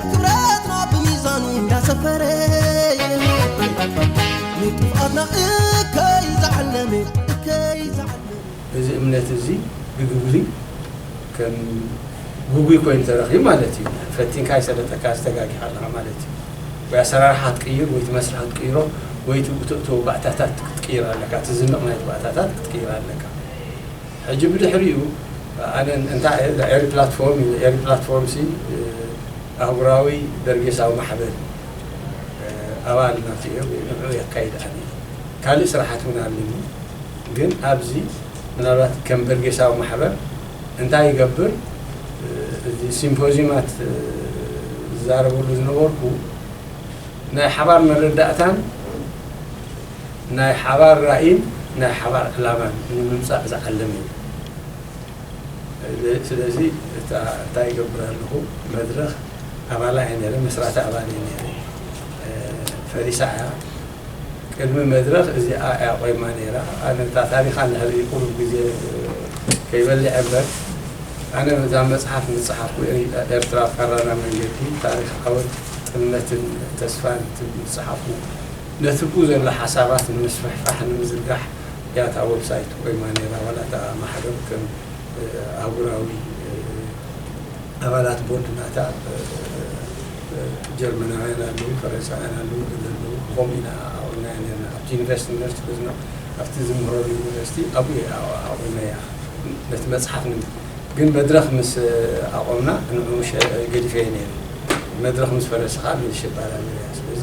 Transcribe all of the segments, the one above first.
ክብረትና ብሚዛኑ እንዳሰፈረ ንጥፍኣትና እከይ ዝዓለመ እከይ ዝዓለመ እዚ እምነት እዚ ብግብሪ ከም ግጉይ ኮይኑ ተረኺቡ ማለት እዩ። ፈቲንካ ኣይሰለጠካ እዚ ተጋጊኻ ኣለኻ ማለት እዩ። ወይ ኣሰራርሓ ክትቅይር ወይ እቲ መስርሕ ክትቅይሮ ወይ እቲ እተእትዎ ባእታታት ክትቅይር ኣለካ እቲ ዝንቕ ናይቲ ባእታታት ክትቅይር ኣለካ። ሕጂ ብድሕሪኡ ኣነ እንታይ እየ ኤሪ ፕላትፎርም ኢለ ኤሪ ፕላትፎርም ሲ ኣህጉራዊ በርጌሳዊ ማሕበር ኣባል ናቱ እየ ወይ ንዑኡ የካይድ ኣነ ካልእ ስራሓት ውን ኣለኒ ግን ኣብዚ ምናልባት ከም በርጌሳዊ ማሕበር እንታይ ይገብር እዚ ሲምፖዝዩማት ዝዛረበሉ ዝነበርኩ ናይ ሓባር መረዳእታን ናይ ሓባር ራኢን ናይ ሓባር ዕላማን ንምምጻእ ዝዓለመ እዩ። ስለዚ እታ እንታይ ይገብር ኣለኹ መድረኽ ኣባላ እየ ነይረ፣ መስራቲ ኣባል እየ ነይረ። ፈሪሳ እያ። ቅድሚ መድረኽ እዚኣ እያ ቆይማ ነይራ። ኣነ እታ ታሪኽ ኣላ ህበይ ቁሩብ ግዜ ከይበልዐ እምበር ኣነ እዛ መጽሓፍ ምጽሓፍኩ ኤርትራ ፋራና መንገዲ ታሪኽ ዓወት ጥልመትን ተስፋን ትብል ምጽሓፉ ነቲ ብኡ ዘሎ ሓሳባት ንምስፍሕፋሕ ንምዝርጋሕ እያ እታ ወብሳይት ቆይማ ነይራ፣ ዋላ እታ ማሕበር ከም ኣህጉራዊ ኣባላት ቦርድ ናታ ጀርመናውያን ኣለዉ፣ ፈረንሳውያን ኣለዉ፣ ገለ ኣለዉ፣ ብኸምኡ ኢና ኣዕቊብናያ ነይርና። ኣብቲ ዩኒቨርሲቲ ዩኒቨርሲቲ ቁዝማ ኣብቲ ዝምህረሉ ዩኒቨርሲቲ ኣብኡ እየ ኣዕቊበያ፣ ነቲ መጽሓፍ ንምስራሕ። ግን መድረኽ ምስ ኣቖምና ንዕኡ ገዲፈዮ ነይረ፣ መድረኽ ምስ ፈረሰ ከኣ መልሼ እባራበረያ፣ ስለዚ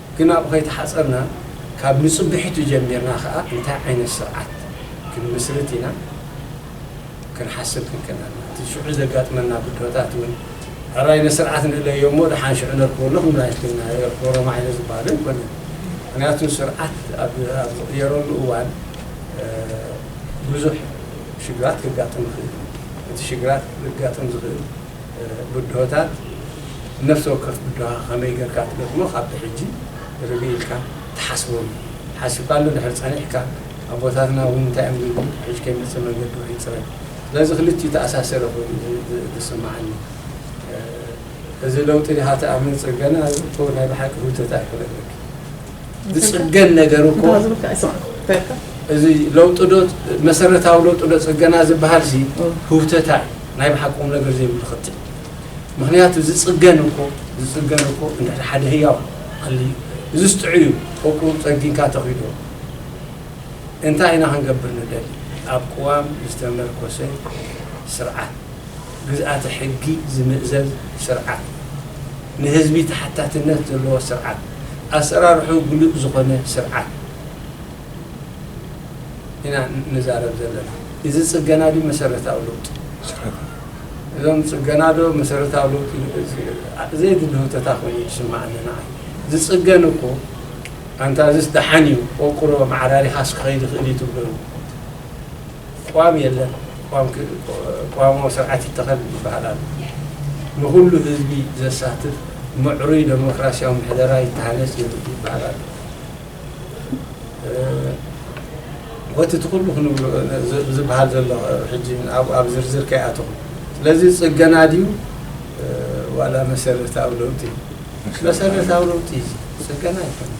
ግን ኣብኡ ከይተሓጸርና ካብ ንጽብሒቱ ጀሚርና ከኣ እንታይ ዓይነት ስርዓት ክንምስርት ኢና ክንሓስብ ክንክእል ኣለና። እቲ ሽዑ ዘጋጥመና ብድሆታት እውን ሕራይ ንስርዓት ንእለዮ እሞ ደሓን ሽዑ ነርክበሉ ክንብል ኣይክእልናን። የርክቦ ረማሕዮ ዝበሃል ኣይኮነን። ምኽንያቱ ስርዓት ኣብ ዝቕየረሉ እዋን ብዙሕ ሽግራት ከጋጥም ይኽእል እዩ። እቲ ሽግራት ከጋጥም ዝኽእል። ብድሆታት ነፍሲ ወከፍ ብድሆኻ ከመይ ጌርካ ትገጥሞ ካብ ብሕጂ ርግእ ኢልካ ትሓስቦም እዩ። ሓሲብካሉ እንድሕር ጸኒሕካ ኣቦታትና እውን እንታይ እዮም ዝብሉ ብሕጂ ከይመጽእ መንገዲ ውሕጅ ጽረግ። ስለዚ ክልቲኡ ተኣሳሰረ ኮይኑ እዩ ዝስምዓኒ። እዚ ለውጢ ድኻ ትኣምንጽ ገና ዝእቶ ናይ ብሓቂ ህውተት ኣይኮነን በኪ። ዝፅገን ነገር እኮ እዚ ለውጢ ዶ መሰረታዊ ለውጢ ዶ ፅገና ዝበሃል ሲ ህውተታ እዩ ናይ ብሓቂ ቁም ነገር ዘይብሉ ክትል ምክንያቱ ዝፅገን እኮ ዝፅገን እኮ እንድሕር ሓደ ህያው ክሊ እዚ ስጥዑ እዩ ቁቁ ፀጊንካ ተኺዶ እንታይ ኢና ክንገብር ንደሊ ኣብ ቅዋም ዝተመርኮሰ ስርዓት ግዝኣተ ሕጊ ዝምእዘዝ ስርዓት፣ ንህዝቢ ተሓታትነት ዘለዎ ስርዓት፣ ኣሰራርሕኡ ግሉጽ ዝኾነ ስርዓት ኢና ንዛረብ ዘለና። እዚ ጽገና ድዩ መሰረታዊ ለውጢ? እዞም ጽገና ዶ መሰረታዊ ለውጢ ዘየድሊ ህውተታ ኮይኑ እዩ ዝስመዓኒ ንዓይ። ዝጽገን እኮ ኣንታ እዝስ ደሓን እዩ ቆርቁሮ ኣመዓራሪኻስ ክኸይድ ይኽእል እዩ ትብሎ እዩ። ቋም የለን ቋሞ ስርዓት ይተኸል ይበሃል ኣሎ። ንኹሉ ህዝቢ ዘሳትፍ ምዕሩይ ደሞክራሲያዊ ምሕደራ ይተሃነፅ ይበሃል ኣሎ። ቦቲ እቲ ኩሉ ክንብሎ ዝበሃል ዘሎ ሕጂ ኣብኡ ኣብ ዝርዝር ከይኣተኹ ስለዚ ፅገና ድዩ ዋላ መሰረታዊ ለውጢ እዩ? መሰረታዊ ለውጢ እዩ ፅገና ኣይኮነን።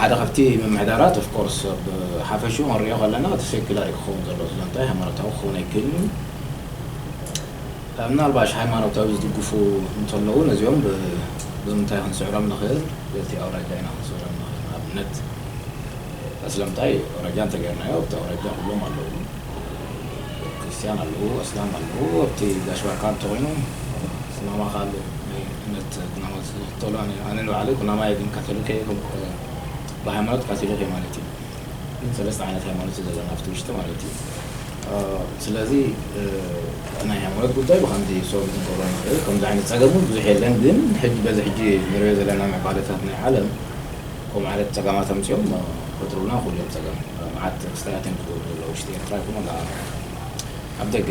ሓደ ካብቲ ምምሕዳራት of course ኣብ ሓፈሽኡ ክንሪኦ ከለና እቲ ሴኩላር እዩ ክኸውን ዘለዎ ስለ እንታይ ሃይማኖታዊ ክኸውን ኣይክእልን እዩ ምናልባሽ ሃይማኖታዊ ዝድግፉ እንተለዉ ነዚኦም ብምንታይ ክንስዕሮም ንኽእል በቲ ኣውራጃ ኢና ክንስዕሮም ንኽእል ንኣብነት ኣስለምታይ ኣውራጃ እንተገርናዮ ኣብቲ ኣውራጃ ኩሎም ኣለዉ ክርስትያን ኣለዉ ኣስላም ኣለዉ ኣብቲ ጋሽ ባርካ እንተኾይኑ ስማማ ካሉ ናይ እምነት ኩናማ ዝክተሏን እየ ኣነ ንባዕለይ ኩናማይ እየ ግን ካቶሊክ እየ ከምኡ ከ ብሃይማኖት ካቶሊክ እየ ማለት እዩ ግን ሰለስተ ዓይነት ሃይማኖት እዩ ዘለና ኣብቲ ውሽጢ ማለት እዩ ስለዚ እቲ ናይ ሃይማኖት ጉዳይ ብከምዚ ሰው ክንገብሮ ንክእል ከምዚ ዓይነት ፀገም እውን ብዙሕ የለን ግን ሕጂ በዚ ሕጂ ንሪኦ ዘለና ምዕባለታት ናይ ዓለም ከምኡ ዓይነት ፀገማት ኣምፂኦም ክፈጥሩልና ይክእሉ እዮም ፀገም መዓት ክስተያትን ክገብሩ ዘለዉ ውሽጢ ኤርትራ ይኩን ዋላ ኣብ ደገ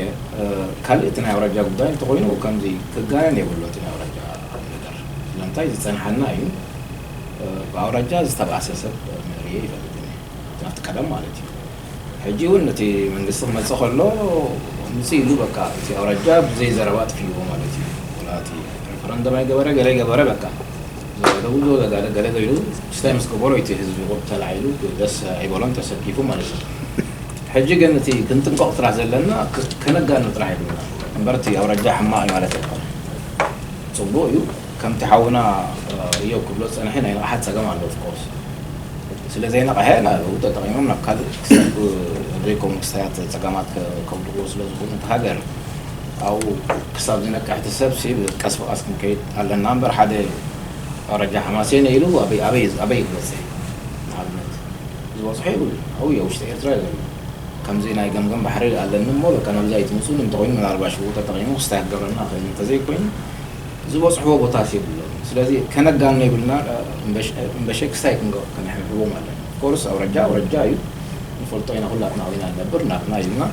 ካልእ እቲ ናይ ኣውራጃ ጉዳይ እንተኾይኑ ከምዚ ክጋነን የብሎ እቲ ናይ ኣውራጃ ነገር ስለምንታይ ዝጸንሓና እዩ ብኣውራጃ ዝተባእሰ ሰብ ርእየ ኣይፈልጥን እየ ኣብቲ ቀደም ማለት እዩ ሕጂ ውን እቲ መንግስቲ ክመጽእ ከሎ ምጽእ ኢሉ በቃ እቲ ኣውራጃ ብዘይ ዘረባ ኣጥፊእዎ ማለት እዩ ወላ እቲ ረፈረንደም ኣይገበረ ገለ ኣይገበረ በቃ ዘጋደቡ ዘጋደ ገለ ገይሩ ስታይ ምስ ገበሮ እቲ ህዝቢ ቁብ ተላዒሉ ደስ ኣይበሎን ተሰኪፉ ማለት እዩ ሕጂ ግን እቲ ክንጥንቀቅ ጥራሕ ዘለና ከነጋኑ ጥራሕ የብልና እምበር እቲ ኣውራጃ ሕማቅ እዩ ማለት ኣይኮነን ጽቡቅ እዩ ከምቲ ሓውና እዮብ ክብሎ ዝጸንሐ ናይ ንቅሓት ጸገም ኣሎ of course ስለ ዘይነቅሐ ናብኡ ተጠቂሞም ናብ ካልእ ክሰዱ ኣብ ዘይከውን ክስታያት ጸገማት ከውድቅዎ ስለ ዝክእሉ እታ ሃገር ኣብኡ ክሳብ ዝነቅሕ እቲ ሰብ ሲ ቀስ ብቀስ ክንከይድ ኣለና እምበር ሓደ ኣውራጃ ሓማሴን ኢሉ ኣበይ ኣበይ ኣበይ ክበጽሕ እዩ ንኣብነት ዝበጽሖ የብሉን ኣብኡ እዮ ውሽጢ ኤርትራ እዮ ዘሎ ከምዚ ናይ ገምገም ባሕሪ ኣለኒ እሞ በቃ ናብዚ ኣይትምጹኒ እንተኮይኑ ምናልባሽ ሽጉጥ ተጠቂሙ ክስታይ ክገብረና ይክእል እዩ እንተዘይ ኮይኑ ዝበጽሕዎ ቦታት የብሎምን ስለዚ ከነጋኖ የብልና እምበሸ ክስታይ ክንገብር ከነሕብሕቦም ኣለና of course ኣውራጃ ኣውራጃ እዩ ንፈልጦ ኢና ኩላትና ኣብኡ ኢና ንነብር ናትና እዩ እና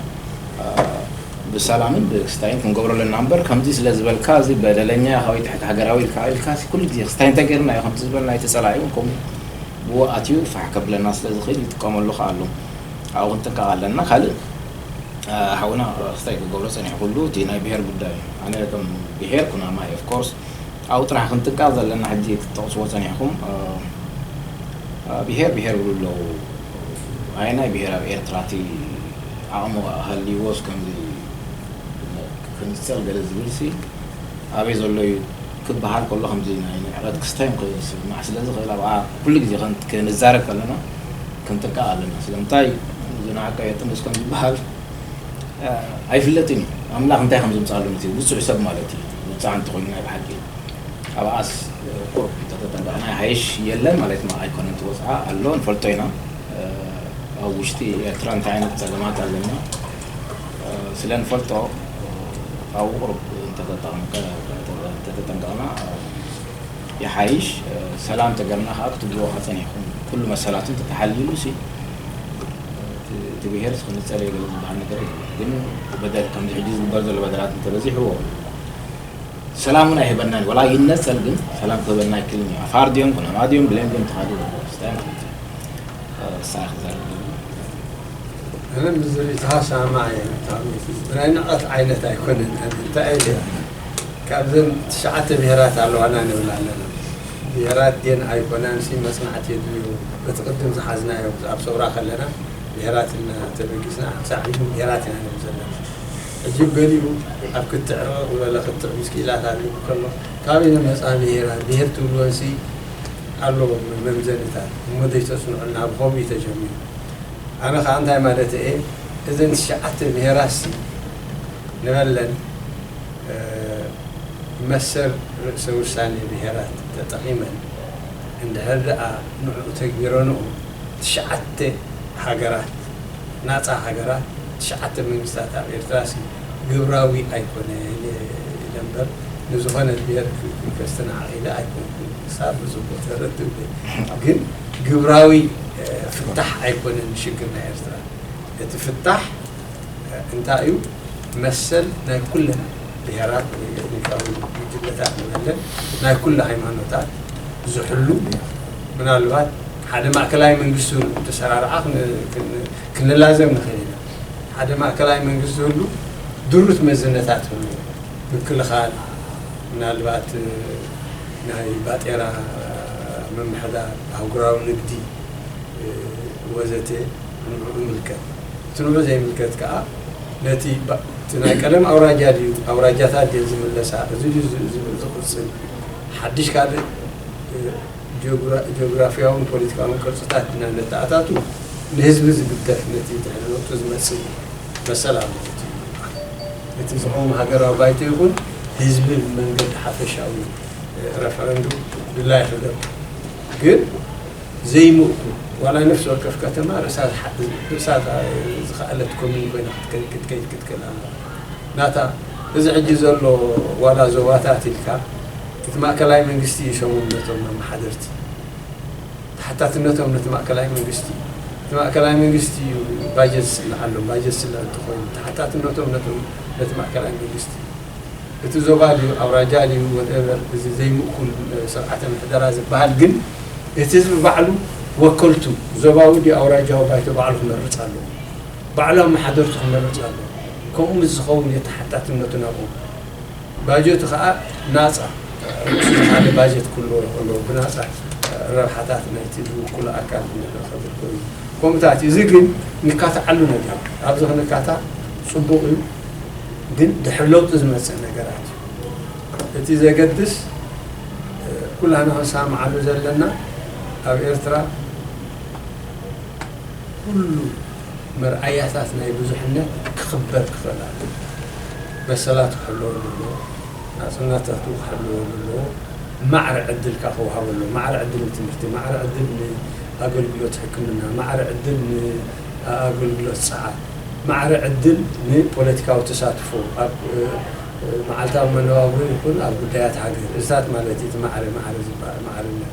ብሰላምን ብክስታይን ክንገብሮ ኣለና እምበር ከምዚ ስለ ዝበልካ እዚ በደለኛ ኢካ ወይ ትሕቲ ሃገራዊ ኢልካ ኢልካ ኩሉ ግዜ ክስታይ እንተጌርና እዩ ከምዚ ዝበልና እቲ ጸላኢ እውን ከምኡ ብኡ ኣትዩ ፋሕ ከብለና ስለ ዝኽእል ይጥቀመሉ ከኣ ኣሎ ኣብኡ ክንጥንቀቕ ኣለና ካልእ ሓውና ክስታይ ክገብሮ ጸኒሑ ኩሉ እቲ ናይ ብሄር ጉዳይ እዩ ኣነ ከም ብሄር ኩናማ እየ ኦፍኮርስ ኣብኡ ጥራሕ ክንጥንቀቕ ዘለና ሕጂ ክትጠቕስዎ ጸኒሕኩም ብሄር ብሄር ይብሉ ኣለዉ ኣየናይ ብሄር ኣብ ኤርትራ እቲ ዓቕሚ ሃልይዎስ ከምዚ ክንጸል ገለ ዝብልሲ ኣበይ ዘሎ እዩ ክበሃል ከሎ ከምዚ ናይ ንዕቀት ክስታዮም ክስማዕ ስለ ዝኽእል ኣብኣ ኩሉ ግዜ ክንዛረብ ከለና ክንጥንቀቕ ኣለና ስለምንታይ ዝነዓቀ የጥንስ ከም ዝበሃል ኣይፍለጥን እዩ ኣምላኽ እንታይ ከም ዘምጻሉ ነቲ ውጹዕ ሰብ ማለት እዩ ውጻዕ እንተኾይኑ ናይ ብሓቂ ኣብኣስ ቁሩብ እንተተጠንቀቕና ይሓይሽ የለን ማለት ኣይኮነን እቲ ወጽዓ ኣሎ ንፈልጦ ኢና ኣብ ውሽጢ ኤርትራ እንታይ ዓይነት ጸገማት ኣለና ስለ ንፈልጦ ካብኡ ቁሩብ እንተተጠንቀቅና ይሓይሽ ሰላም እንተገርና ከዓ ክትብልዎ ሓፂን ኣይኮን ኩሉ መሰላቱ እንተተሓልይሉ ሲ እቲ ብሄር ክንፀል የገለ ዝበሃል ነገር የለን ግን በደል ከምዚ ሕጂ ዝግበር ዘሎ በደላት እንተበዚሕዎ ሰላም እውን ኣይህበናን ወላ ይነፀል ግን ሰላም ክህበና ኣይክልን እዩ ኣፋር ድዮም ኩናማ ድዮም ብሌን ድዮም ተኻድዎ ስታይ ማለት እዩ ሳይ ክዛረብ ኣነ ምስዚ ሪኢቶኻ እሰማማዕ እየ ብጣዕሚ እቲ ናይ ንዕቀት ዓይነት ኣይኮነን ኣነ እንታይ እየ ዝብል ካብዘን ትሽዓተ ብሄራት ኣለዋና ንብል ኣለና ብሄራት ድየን ኣይኮናንሲ መፅናዕቲ የድልዮ በቲ ቅድም ዝሓዝናዮ ኣብ ሰውራ ከለና ብሄራት ኢልና ተበጊስና ክሳዕ ሕጂ ውን ብሄራት ኢና ንብል ዘለና ሕጂ ገሊኡ ኣብ ክትዕ ርቕቕ ዝበለ ክትዕ ምስ ክኢላታት ዝብል ከሎ ካበይ ዝመፃ ብሄራት ብሄር ትብልወንሲ ኣሎ መምዘንታት እሞ ዘይተፅንዑልና ብኸምኡ እዩ ተጀሚሩ ኣነ ከኣ እንታይ ማለተይ እየ እዘን ትሽዓተ ብሄራትሲ ንበለን መሰል ርእሰ ውሳኔ ብሄራት ተጠቒመን እንድሕር ደኣ ንዑኡ ተግቢረንኦ ትሽዓተ ሃገራት ናጻ ሃገራት ትሽዓተ መንግስታት ኣብ ኤርትራሲ ግብራዊ ኣይኮነን ኢለ እምበር ንዝኾነት ብሄር ከስተናዕቕ ኢለ ኣይኮንኩን። ክሳብ እዚ እኮ ተረድእ ግን ግን ግብራዊ ፍታሕ ኣይኮነን ሽግር ናይ ኤርትራ እቲ ፍታሕ እንታይ እዩ መሰል ናይ ኩለን ብሄራት ወይ ኤትኒካዊ ጉጅለታት ንበለን ናይ ኩሉ ሃይማኖታት ዝሕሉ ምናልባት ሓደ ማእከላይ መንግስቲ ህሉ ተሰራርዓ ክንላዘብ ንኽእል ኢና ሓደ ማእከላይ መንግስቲ ህሉ ድሩት መዝነታት ህሉ ምክልኻል ምናልባት ናይ ባጤራ ምምሕዳር፣ ኣህጉራዊ ንግዲ ወዘተ ንዑዑ ይምልከት። እቲ ንዑዑ ዘይምልከት ከኣ ነቲ እቲ ናይ ቀደም ኣውራጃ ድዩ ኣውራጃታት ድየን ዝምለሳ እዚ ድዩ ዝቕጽል ሓድሽ ካልእ ጂኦግራፊያውን ፖለቲካውን ቅርጽታት ኢና ነተኣታቱ ንህዝቢ ዝግደፍ ነቲ ድሕሪ ለውጢ ዝመጽእ መሰል ኣለዎ እቲ ምርጫ። እቲ ዝቐውም ሃገራዊ ባይቶ ይኹን ህዝቢ ብመንገዲ ሓፈሻዊ ረፈረንዱም ድላዩ ክገብር ግን ዘይምእኩል ዋላ ነፍሲ ወከፍ ከተማ ርእሳ ዝኸኣለት ኮምዩን ኮይና ክትከይድ ክትክእል ኣለዋ ናታ እዚ ሕጂ ዘሎ ዋላ ዞባታት ኢልካ እቲ ማእከላይ መንግስቲ እዩ ሸሞም ነቶም ኣመሓደርቲ ተሓታትነቶም ነቲ ማእከላይ መንግስቲ እዩ። እቲ ማእከላይ መንግስቲ እዩ ባጀት ዝስልሓሎም። ባጀት ዝስልሕ እንተኾይኑ ተሓታትነቶም ነቶም ነቲ ማእከላይ መንግስቲ እዩ። እቲ ዞባ ድዩ ኣውራጃ ድዩ ወድኤቨር እዚ ዘይምእኩል ስርዓተ ምሕደራ ዝበሃል ግን እቲ ህዝቢ ባዕሉ ወከልቱ ዞባዊ ድዩ ኣውራጃዊ ባይቶ ባዕሉ ክመርጽ ኣለዎ። ባዕሉ ኣመሓደርቱ ክመርጽ ኣለዎ። ከምኡ ምስ ዝኸውን እዩ ተሓታትነቱ ናብኦም። ባጀቱ ከኣ ናጻ ምስ በሃለ ባጀት ክህልዎ ይኸእሎ ብናጻ ረብሓታት ናይቲ ዝውክሎ ኣካል ንኸብር ኮይኑ ኮምታት እዩ። እዚ ግን ንካትዓሉ ነገር እዩ። ኣብዚ ክንካታዕ ጽቡቕ እዩ ግን ድሕሪ ለውጢ ዝመጽእ ነገራት እዩ እቲ ዘገድስ ኩላህና ክንሰማማዓሉ ዘለና ኣብ ኤርትራ ኩሉ መርኣያታት ናይ ብዙሕነት ክኽበር ክኽእል ኣለዎ። መሰላት ክሕለወሉ ኣለዎ። ናጽነታቱ ክሕለወሉ ኣለዎ። ማዕረ ዕድል ከኣ ክወሃቦ ኣለዎ። ማዕረ ዕድል ንትምህርቲ፣ ማዕረ ዕድል ንኣገልግሎት ሕክምና፣ ማዕረ ዕድል ንኣገልግሎት ጸዓት፣ ማዕረ ዕድል ንፖለቲካዊ ተሳትፎ ኣብ መዓልታዊ መነባብሮ ይኹን ኣብ ጉዳያት ሃገር፣ እዚታት ማለት እዩ እቲ ማዕረ ማዕረ ዝበሃል፣ ማዕርነት።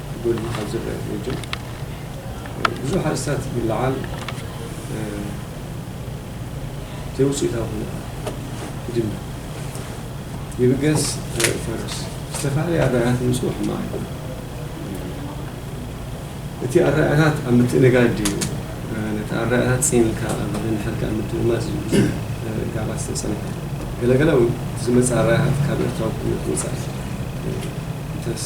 ጎሊሁ ካብ ዝረኣ ጎጆ ብዙሕ ኣርእስታት ይለዓል ዘይውፅኢታዊ ኮይኑ ይድምደም። ይብገስ ዘርኢ ፈረስ ዝተፈላለዩ ኣረኣእያታት ምምፅኡ ሕማቕ ኣይኮነን። እቲ ኣረኣእያታት ኣብ ምትእንጋድ ድዩ ነቲ ኣረኣእያታት ፅን ኢልካ ኣብ ምንሕልካ ኣብ ምድምማፅ እዩ ብዙሕ ጋባት ዝተፀንሐ ገለገለ እውን እቲ ዝመፅእ ኣረኣእያታት ካብ ኤርትራዊ ኩነት ወፃኢ እንተስ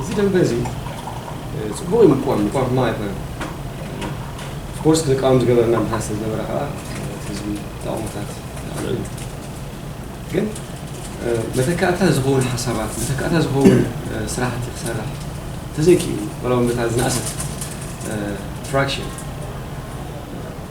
እዚ ደንበ እዚ ጽቡቕ እዩ ምቋም ምቋም ሕማቕ ኣይኮነን ስፖርት ንቃወም ዝገበረና ምክንያት ስለ ዝነበረ ከዓ ህዝቢ ተቓውሞታት ኣልዒሉ ግን መተካእታ ዝኸውን ሓሳባት መተካእታ ዝኸውን ስራሕቲ ክሰርሕ ተዘይክኢሉ ዋላ እውን በታ ዝነኣሰት ፍራክሽን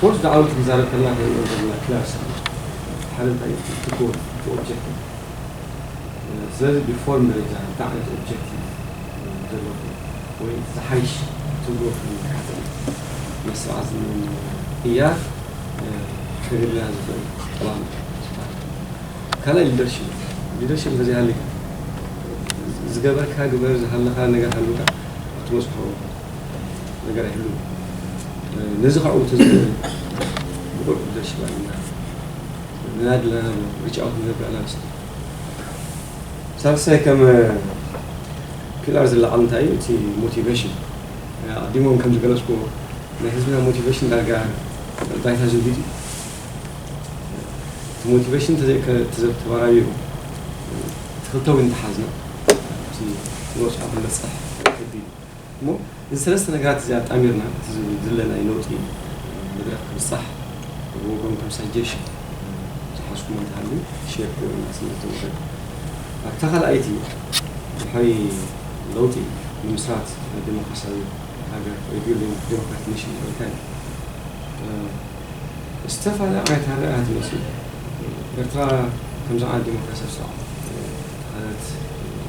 ኮርስ ድዓወት ክንዛረብ ከለና ታይ ንብል ዘለና ክላስ ኣሎ ሓደ ታይ እዩ እቲ ጎል እቲ ኦብጀክቲቭ ስለዚ ብፎርም ደረጃ እንታይ ዓይነት ኦብጀክቲቭ ዘለኩም ወይ እቲ ዝሓይሽ ትብልዎ ፍልይ ዝሓዘ እዩ መስርዓ ዝምም ቅያር ከግርና ዝኽእል ጠላም ዝበሃል ካልኣይ ሊደርሽፕ ሊደርሽፕ እንተዘይ ሃሊካ ዝገበርካ ግበር ዝሃለኻ ነገር ሃልውካ ኣትበጽሖ ነገር ኣይህሉን ነዚ ካብኡ ተዘይበለ ብቁዕ ሊደርሽፕ ኣለና ንናይ ድለና ሪች ኣውት ንገብር ኣላ ንስቲ ሳልሳይ ከም ፒላር ዝለዓል እንታይ እዩ እቲ ሞቲቬሽን ኣዲሞም ከም ዝገለጽኩዎ ናይ ህዝብና ሞቲቬሽን ዳርጋ ባይታ ዝውሂድ እዩ እቲ ሞቲቬሽን ተዘተባራዩ ትኽልተዊ እንተሓዝና እቲ ንወፅዖ ክንበፅሕ ከቢድ እዩ እሞ እዚ ሰለስተ ነገራት እዚ ኣጣሚርና እቲ ዝድለ ናይ ለውጢ መድረኽ ክብጻሕ ብወገንኩም ሳጀሽን ዝሓዝኩሞ እንተሃልዩ ሼር ክገብሩልና ስለ ዝተወደድኩ። ኣብታ ካልኣይቲ ድሕሪ ለውጢ ምምስራት ደሞክራስያዊ ሃገር Rebuilding Democratic Nation ዝበልካዮ ዝተፋላለዩ ዓይነት ኣረኣእያታት ይመጽኡ። ኤርትራ ከም ዝዓነ ደሞክራስያዊ ስርዓት ተኸለት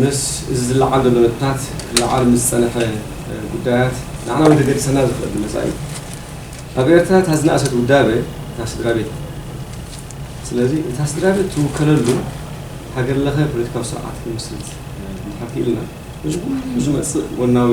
ምስ እዚ ዝለዓል ዘሎ ነጥብታት ክለዓል ምስ ዝጸንሐ ጉዳያት ንዓና እውን ከገድሰና ዝኽእል ብነጻ እዩ። ኣብ ኤርትራ እታ ዝነኣሰት ውዳበ እታ ስድራቤት እያ። ስለዚ እታ ስድራቤት ትውከለሉ ሃገር-ለኸ ፖለቲካዊ ስርዓት ክንምስርት እንድሕር ክኢልና እዚ ኩሉ ዝመጽእ ጎናዊ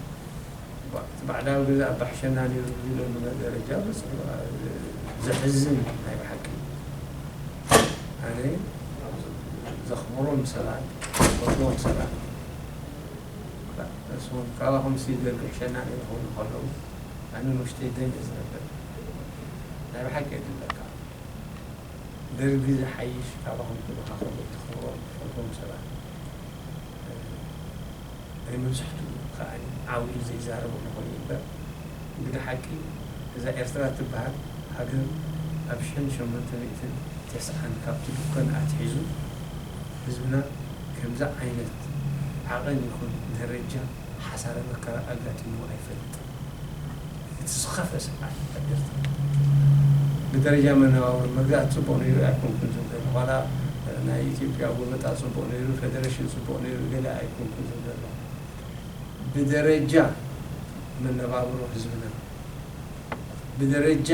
እቲ ባዕዳዊ ገዛእ ባሕሸና ኔሩ ዝብለሉ ደረጃ በጺሑ ዘሕዝን እዩ ናይ ብሓቂ ኣነ ዘኽብሮም ሰባት ዝፈትዎም ሰባት እሶም ካባኹም ሲ ይደሉ ሕሸና ኔሩ ክብሉ ከለዉ ኣነ ንውሽተይ ደም እዩ ዝነብር ናይ ብሓቂ እየ ዝብለካ ደርጊ ዝሓይሽ ካባኹም ክብልካ ከሎ ትኽብሮም ትፈትዎም ሰባት ናይ መብዛሕትኡ ከኣኒ ዓው ኢሉ ዘይዛረብ እንኾይኑ እምበር እንግዳ ሓቂ እዛ ኤርትራ እትበሃል ሃገር ኣብ ሸን ሸሞንተ ሚእትን ተስዓን ካብ ትድኮን ኣትሒዙ ህዝብና ከምዚ ዓይነት ዓቐን ይኹን ደረጃ ሓሳረ መከራ ኣጋጢምዎ ኣይፈልጥን። እቲ ዝኸፍኤ ስርዓት ኣብ ኤርትራ ብደረጃ መነባብሮ ምግራት ጽቡቕ ነይሩ ኣይኮንኩን ዝብል ዘለኹ ዋላ ናይ ኢትዮጵያ ጎበጣ ጽቡቕ ነይሩ ፈደረሽን ጽቡቕ ነይሩ ገለ ኣይኮንኩን ዝብል ዘለኹ ብደረጃ መነባብሮ ህዝብና ብደረጃ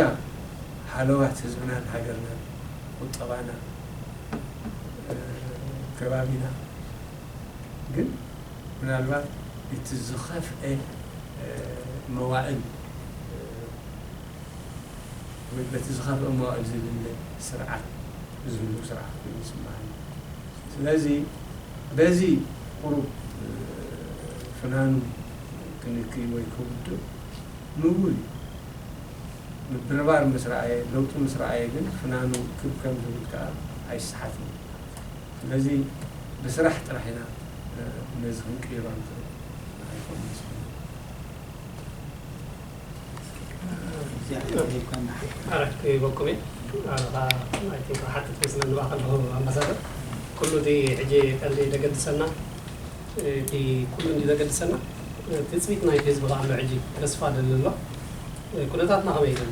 ሃለዋት ህዝብናን ሃገርናን ቁጠባና ከባቢና ግን ምናልባት እቲ ዝኸፍኤ መዋእል ወይ በቲ ዝኸፍኤ መዋእል ዝልለ ስርዓት ዝህሉ ስርዓት ኮይኑ ይስመዓኒ። ስለዚ በዚ ቁሩብ ፍናኑ ክንክይ ወይ ክውድእ ምውል እዩ። ምብርባር ምስ ረኣየ፣ ለውጢ ምስ ረኣየ ግን ፍናኑ ክብ ከም ዝብል ከኣ ኣይሰሓትን እዩ። ስለዚ ብስራሕ ጥራሕ ኢና ነዚ ክንቅይሮ ንኽእል ኣይኮን መስለኒ። ኣረ ክህበኩም እየ ኣረኻ ኣይ ቲንክ ክሓትት መስለኒ ብኣ ከለኹ ኣምባሳደር ኩሉ እቲ ሕጂ ቀንዲ ዘገድሰና እቲ ኩሉ እንዲ ዘገድሰና ትፅቢት ናይቲ ህዝቢ ከ ኣሎ ሕጂ ተስፋ ደለሎ ኩነታትና ከመይ እዩ ዘሎ?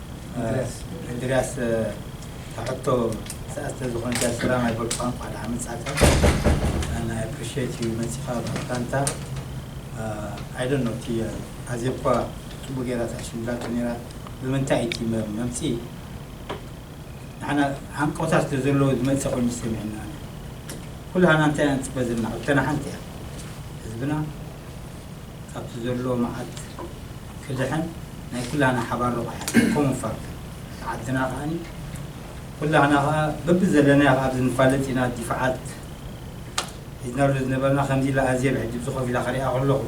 እንድርያስ እታ ሕቶ ሰኣት ስለዝኾነት ሰላም ኣይበልኩኻን እንኳዕ ደሓን መፃእካ and I appreciate you መፂእኻ ምፍታንካ I don't know እቲ ኣዜብ እኳ ፅቡቅ ገይራ ተሕሽምላቶ ነይራ ብምንታይ እዩ እቲ መምፅኢ ንዓና ሃንቀውታ ስለዘለዎ ዝመፀ ኮይኑ ዝሰሚዕና ኩላህና እንታይ ኢና ንፅበ ዘለና ሕቶና ሓንቲ እያ ህዝብና ካብቲ ዘሎ መዓት ክድሕን ናይ ኩላህና ሓባር ረቋሒ ኮሙን ፋክት እታ ዓድና ከኣኒ ኩላህና ከኣ በብዘለናዮ ከኣ ኣብዚ ንፋለጥ ኢና ዲፋዓት ሒዝናሉ ዝነበርና ከምዚ ኢላ ኣዝየ ብሕጂ ብዝኾፍ ኢላ ክሪኣ ከለኹ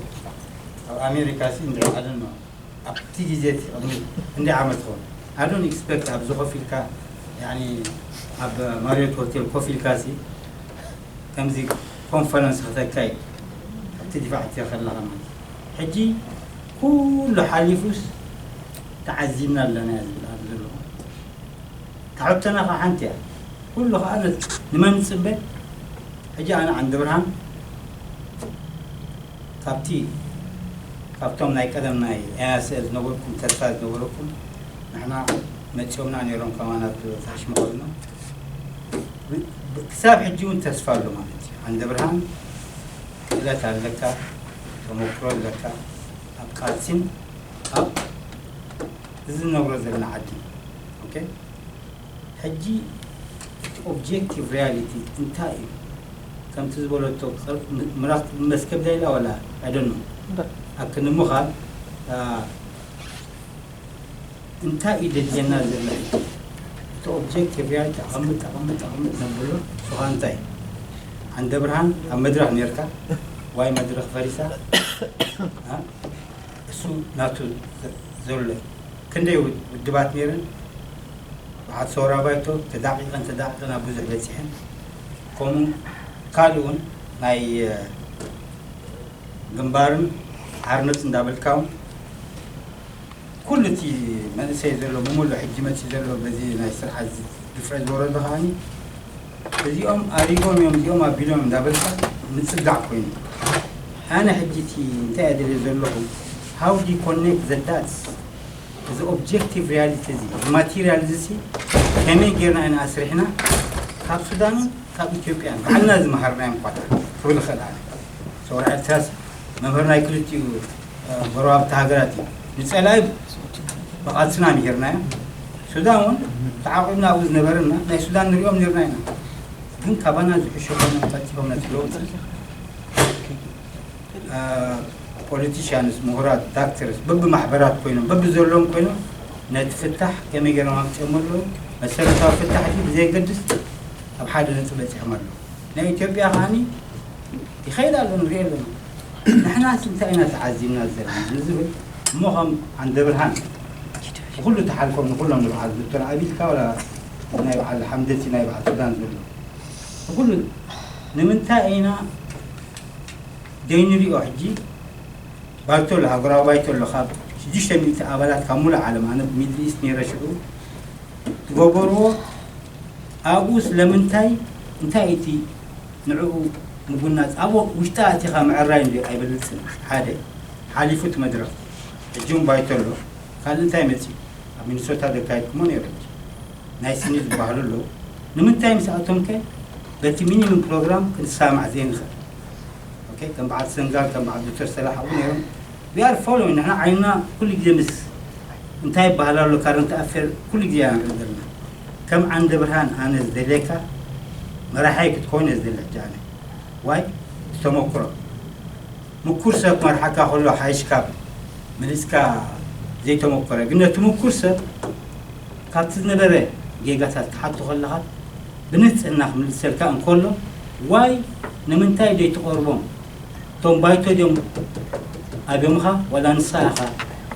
ኣብ ኣሜሪካ ሲ እንድሕር ኣደኖ ኣብቲ ግዜ እቲ ቅድሚ ክንደይ ዓመት ይኸውን ኣይ ዶንት ኤክስፐክት ኣብዚ ኮፍ ኢልካ ያኒ ኣብ ማሪዮት ሆቴል ኮፍ ኢልካ ሲ ከምዚ ኮንፈረንስ ከተካይድ ኣብ ትድፋዕ እትዮ ከለኻ ማለት እዩ ሕጂ ኩሉ ሓሊፉስ ተዓዚብና ኣለና እየ ዝብል ኣብዚ ዘለኹ እታ ሕቶና ከኣ ሓንቲ እያ ኩሉ ከኣ ንመን ንጽበ ሕጂ ኣነ ዓንደብርሃን ካብቲ ካብቶም ናይ ቀደም ናይ ኤያስኤል ዝነበርኩም ተስፋ ዝነበረኩም ንሕና መጺኦምና ነይሮም ከማና ዝበዝሕ ሽምግልና ክሳብ ሕጂ ውን ተስፋ ኣሎ ማለት እዩ ዓንደብርሃን ክእለት ኣለካ ተመክሮ ኣለካ ኣብ ቃልሲን ኣብ እዚ ንነብሮ ዘለና ዓዲ ኦኬ ሕጂ እቲ ኦብጀክቲቭ ሪያሊቲ እንታይ እዩ ከምቲ ዝበለቶ ምራክ መስከብ ዳይላ ወላ ኣይደኖ ኣክንምኻል እንታይ እዩ ደልየና ዘሎ ሕጂ እቲ ኦብጀክት ሪያሊቲ ኣቐምጥ ኣቐምጥ ኣቐምጥ ነብሎ ንስኻ እንታይ ዓንደብርሃን ኣብ መድረኽ ኔርካ ዋይ መድረኽ ፈሪሳ እሱ ናቱ ዘሎ እዩ ክንደይ ውድባት ኔረን በዓት ሰውራ ባይቶ ተዳቂቐን ተዳቂቐን ኣብ ብዙሕ በፂሐን ከምኡ ካልእ እውን ናይ ግንባርን ሓርነት እንዳበልካ እውን ኩሉ እቲ መንእሰይ ዘሎ ብሙሉእ ሕጂ መጺኡ ዘሎ በዚ ናይ ስርዓት ድፍረት ዝወረዶ ከኣኒ እዚኦም ኣሪጎም እዮም እዚኦም ኣቢሎም እዮም እንዳበልካ ምጽጋዕ ኮይኑ ኣነ ሕጂ እቲ እንታይ እየ ደልየ ዘለኹ ሃው ዲ ኮኔክት ዘ ዳትስ እዚ ኦብጀክቲቭ ሪያሊቲ እዚ እዚ ማቴሪያል እዚ ሲ ከመይ ጌርና ኢና ኣስሪሕና ካብ ሱዳንን ካብ ኢትዮጵያን ባዕልና ዝመሃርናዮም ኳታ ክብል ይኽእል ኣነ ሰውራ ኤርትራሲ መምህር ናይ ክልቲኡ ጎረባብቲ ሃገራት እዩ ንጸላኢ ብቓልስና ምሂርናዮ ሱዳን እውን ተዓቂብና ኣብኡ ዝነበረና ናይ ሱዳን ንሪኦም ነርና ኢና ግን ካባና ዝሕሾ ኮይኖም ተርኪቦም ነቲ ለውጢ ፖለቲሽያንስ ምሁራት ዳክተርስ በብማሕበራት ኮይኖም በብዘለዎም ኮይኖም ነቲ ፍታሕ ከመይ ገይሮም ኣምፅኦም ኣለዉ መሰረታዊ ፍታሕ እቲ ብዘየገድስ ኣብ ሓደ ነጥቢ በፂሖም ኣለዉ ናይ ኢትዮጵያ ከዓኒ ይኸይድ ኣሎ ንሪኦ ኣለና ንሕናስ እንታይ ኢና ተዓዚብና ዘለና ንዝብል እሞ ከም ዓንደብርሃን ብኹሉ ተሓልፎም ንኹሎም ንብዓል ዶክተር ኣብይ ኢልካ ዋላ ናይ ብዓል ሓምደቲ ናይ ብዓል ሱዳን ዘሎ ንኹሉ ንምንታይ ኢና ዘይንሪኦ ሕጂ ባይቶ ኣሎ ሃገራዊ ባይቶ ኣሎ ካብ ሽዱሽተ ሚእቲ ኣባላት ካብ ሙሉእ ዓለም ኣነ ሚድል ኢስት ነይረ ሽዑ ዝገበርዎ ኣብኡ ስለምንታይ እንታይ እቲ ንዕኡ ምጉናጽ ኣብ ውሽጣ ኣቲኻ ምዕራይ እንድዩ ኣይበልጽን ሓደ ሓሊፉ እቲ መድረኽ ሕጂ ውን ባይቶ ኣሎ ካልእ እንታይ መጺኡ ኣብ ሚኒሶታ ዘካየድኩሞ ኔሩ ሕጂ ናይ ስኒ ዝባሃሉ ኣለዉ ንምንታይ ምስኣቶም ከ በቲ ሚኒምም ፕሮግራም ክንሳማዕ ዘይንኽእል ኦኬ ከም በዓል ሰንጋል ከም በዓል ዶክተር ሰላሕ ኣዉ ኔሮም We are following ንሕና ዓይንና ኩሉ ግዜ ምስ እንታይ ይበሃል ኣሎ ካረንት ኣፌር ኩሉ ግዜ ኢና ንርኢ ዘለና ከም ዓንደብርሃን ኣነ ዝደልየካ መራሓይ ክትኮን እየ ዝደሊ ሕጂ ኣነ ዋይ ብተመኩሮ ምኩር ሰብ ክመርሓካ ከሎ ሓይሽ ካብ መሊስካ ዘይተመኮረ ግን ነቲ ምኩር ሰብ ካብቲ ዝነበረ ጌጋታት ክሓቶ ከለኻ ብንህጽህና ክምልሰልካ እንከሎ ዋይ ንምንታይ ደይትቐርቦም እቶም ባይቶ ድዮም ኣገምኻ ዋላ ንስኻ ኢኻ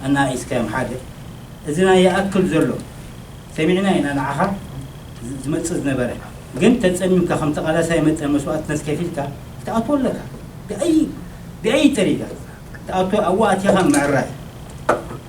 ኣነኣኢስካዮም ሓደ እዚ ናይ ይኣክል ዘሎ ሰሚዕና ኢና ንዓኻ ዝመጽእ ዝነበረ ግን ተጸሚምካ ከም ተቓላሳይ መጠን መስዋእትነት ከፊልካ ክትኣትዎ ኣለካ ብኣይ ብኣይ ጠሪጋ ክትኣትዎ ኣብኡ ኣቲኻ ምዕራይ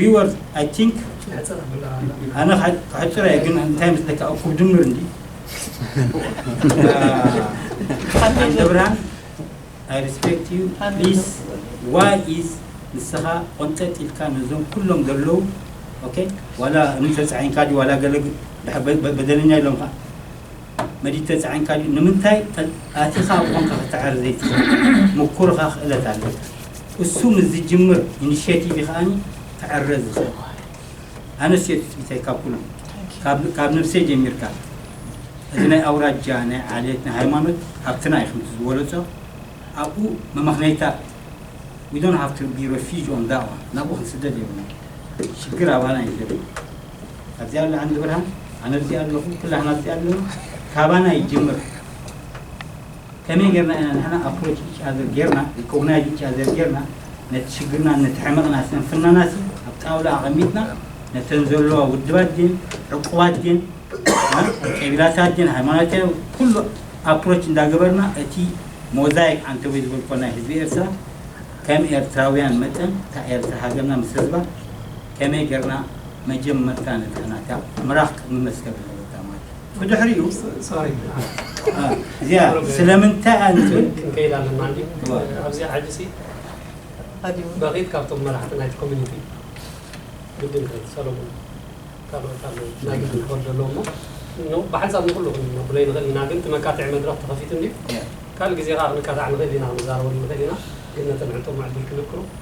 ሪወርድ ኣይ ቲንክ ኣነ ከሕፅሮ እየ ግን እንታይ መስለካ እኩብ ድምር እንዲ ዓንደብርሃን ኣይ ሪስፔክት ዩ ፕሊስ ዋይ ኢዝ ንስኻ ቆንጠጥ ኢልካ ነዞም ኩሎም ዘለዉ ኦኬ ዋላ እምኒ ተፃዒንካ ድዩ ዋላ ገለ ድሕር በደለኛ ኢሎምኻ መዲድ ተጻዒንካ ድዩ ንምንታይ ኣቲኻ ኣብ ኾንካ ክትዓሪ ዘይትኽእል ሙኩርኻ ክእለት ኣለካ እሱ ምስ ዝጅምር ኢንሼቲቪ ከኣኒ ክዕረ ዝኽእል ኣነስ እየ ትጽቢተይ ካብ ኩሉ ካብ ካብ ነብሰይ ጀሚርካ እዚ ናይ ኣውራጃ ናይ ዓሌት ናይ ሃይማኖት ሃብትና እዩ ከምቲ ዝበለጾ ኣብኡ መመኽነይታ we don't have to be refuge on that one ናብኡ ክንስደድ የብልና ሽግር ኣባና እዩ ዘሎ ኣብዚ ኣሎ ዓንዲ ብርሃን ኣነ ኣብዚ ኣለኹ ኩላህና ኣብዚ ኣለና ካባና ይጅምር ከመይ ጌርና ኢና ንሕና ኣፕሮች ኢች ኣዘር ጌርና ሪኮግናይዝ ኢች ኣዘር ጌርና ነቲ ሽግርና ነቲ ሕመቕና ስንፍናና ሲ ኣብ ጣውላ ኣቐሚጥና ነተን ዘለዋ ውድባት ድን ዕቁባት ድን ቀቢላታት ድን ሃይማኖት ኩሉ ኣፕሮች እንዳገበርና እቲ ሞዛይክ ኣንተወይ ዝበልኮ ናይ ህዝቢ ኤርትራ ከም ኤርትራውያን መጠን እታ ኤርትራ ሃገርና ምስ ህዝባ ከመይ ገርና መጀመርታ ንድሕናታ ምራኽ ቅድሚ መዝከብ ኣለበታ ማይ ብድሕሪኡ እዚኣ ስለምንታይ እያ ንዝብል ክንከይድ ኣለና እንዲ ኣብዚ ዓዲ ሲ በቂት ካብቶም መራሕቲ ናይቲ ኮሚኒቲ ግድን ከ ሰለሙን ካልኦት ኣለዉ ናይ ግድን ክኸዱ ኣለዎ እሞ ብሓንሳብ ንኩሉ ክንነብሎ ይንኽእል ኢና ግን ትመካትዒ መድረኽ ተኸፊቱ እንዲ ካልእ ግዜ ከዓ ክንካታዕ ንኽእል ኢና ክንዛረበሉ ንኽእል ኢና ግን ነተን ዕጡቕ ምዕድል ክልክሩ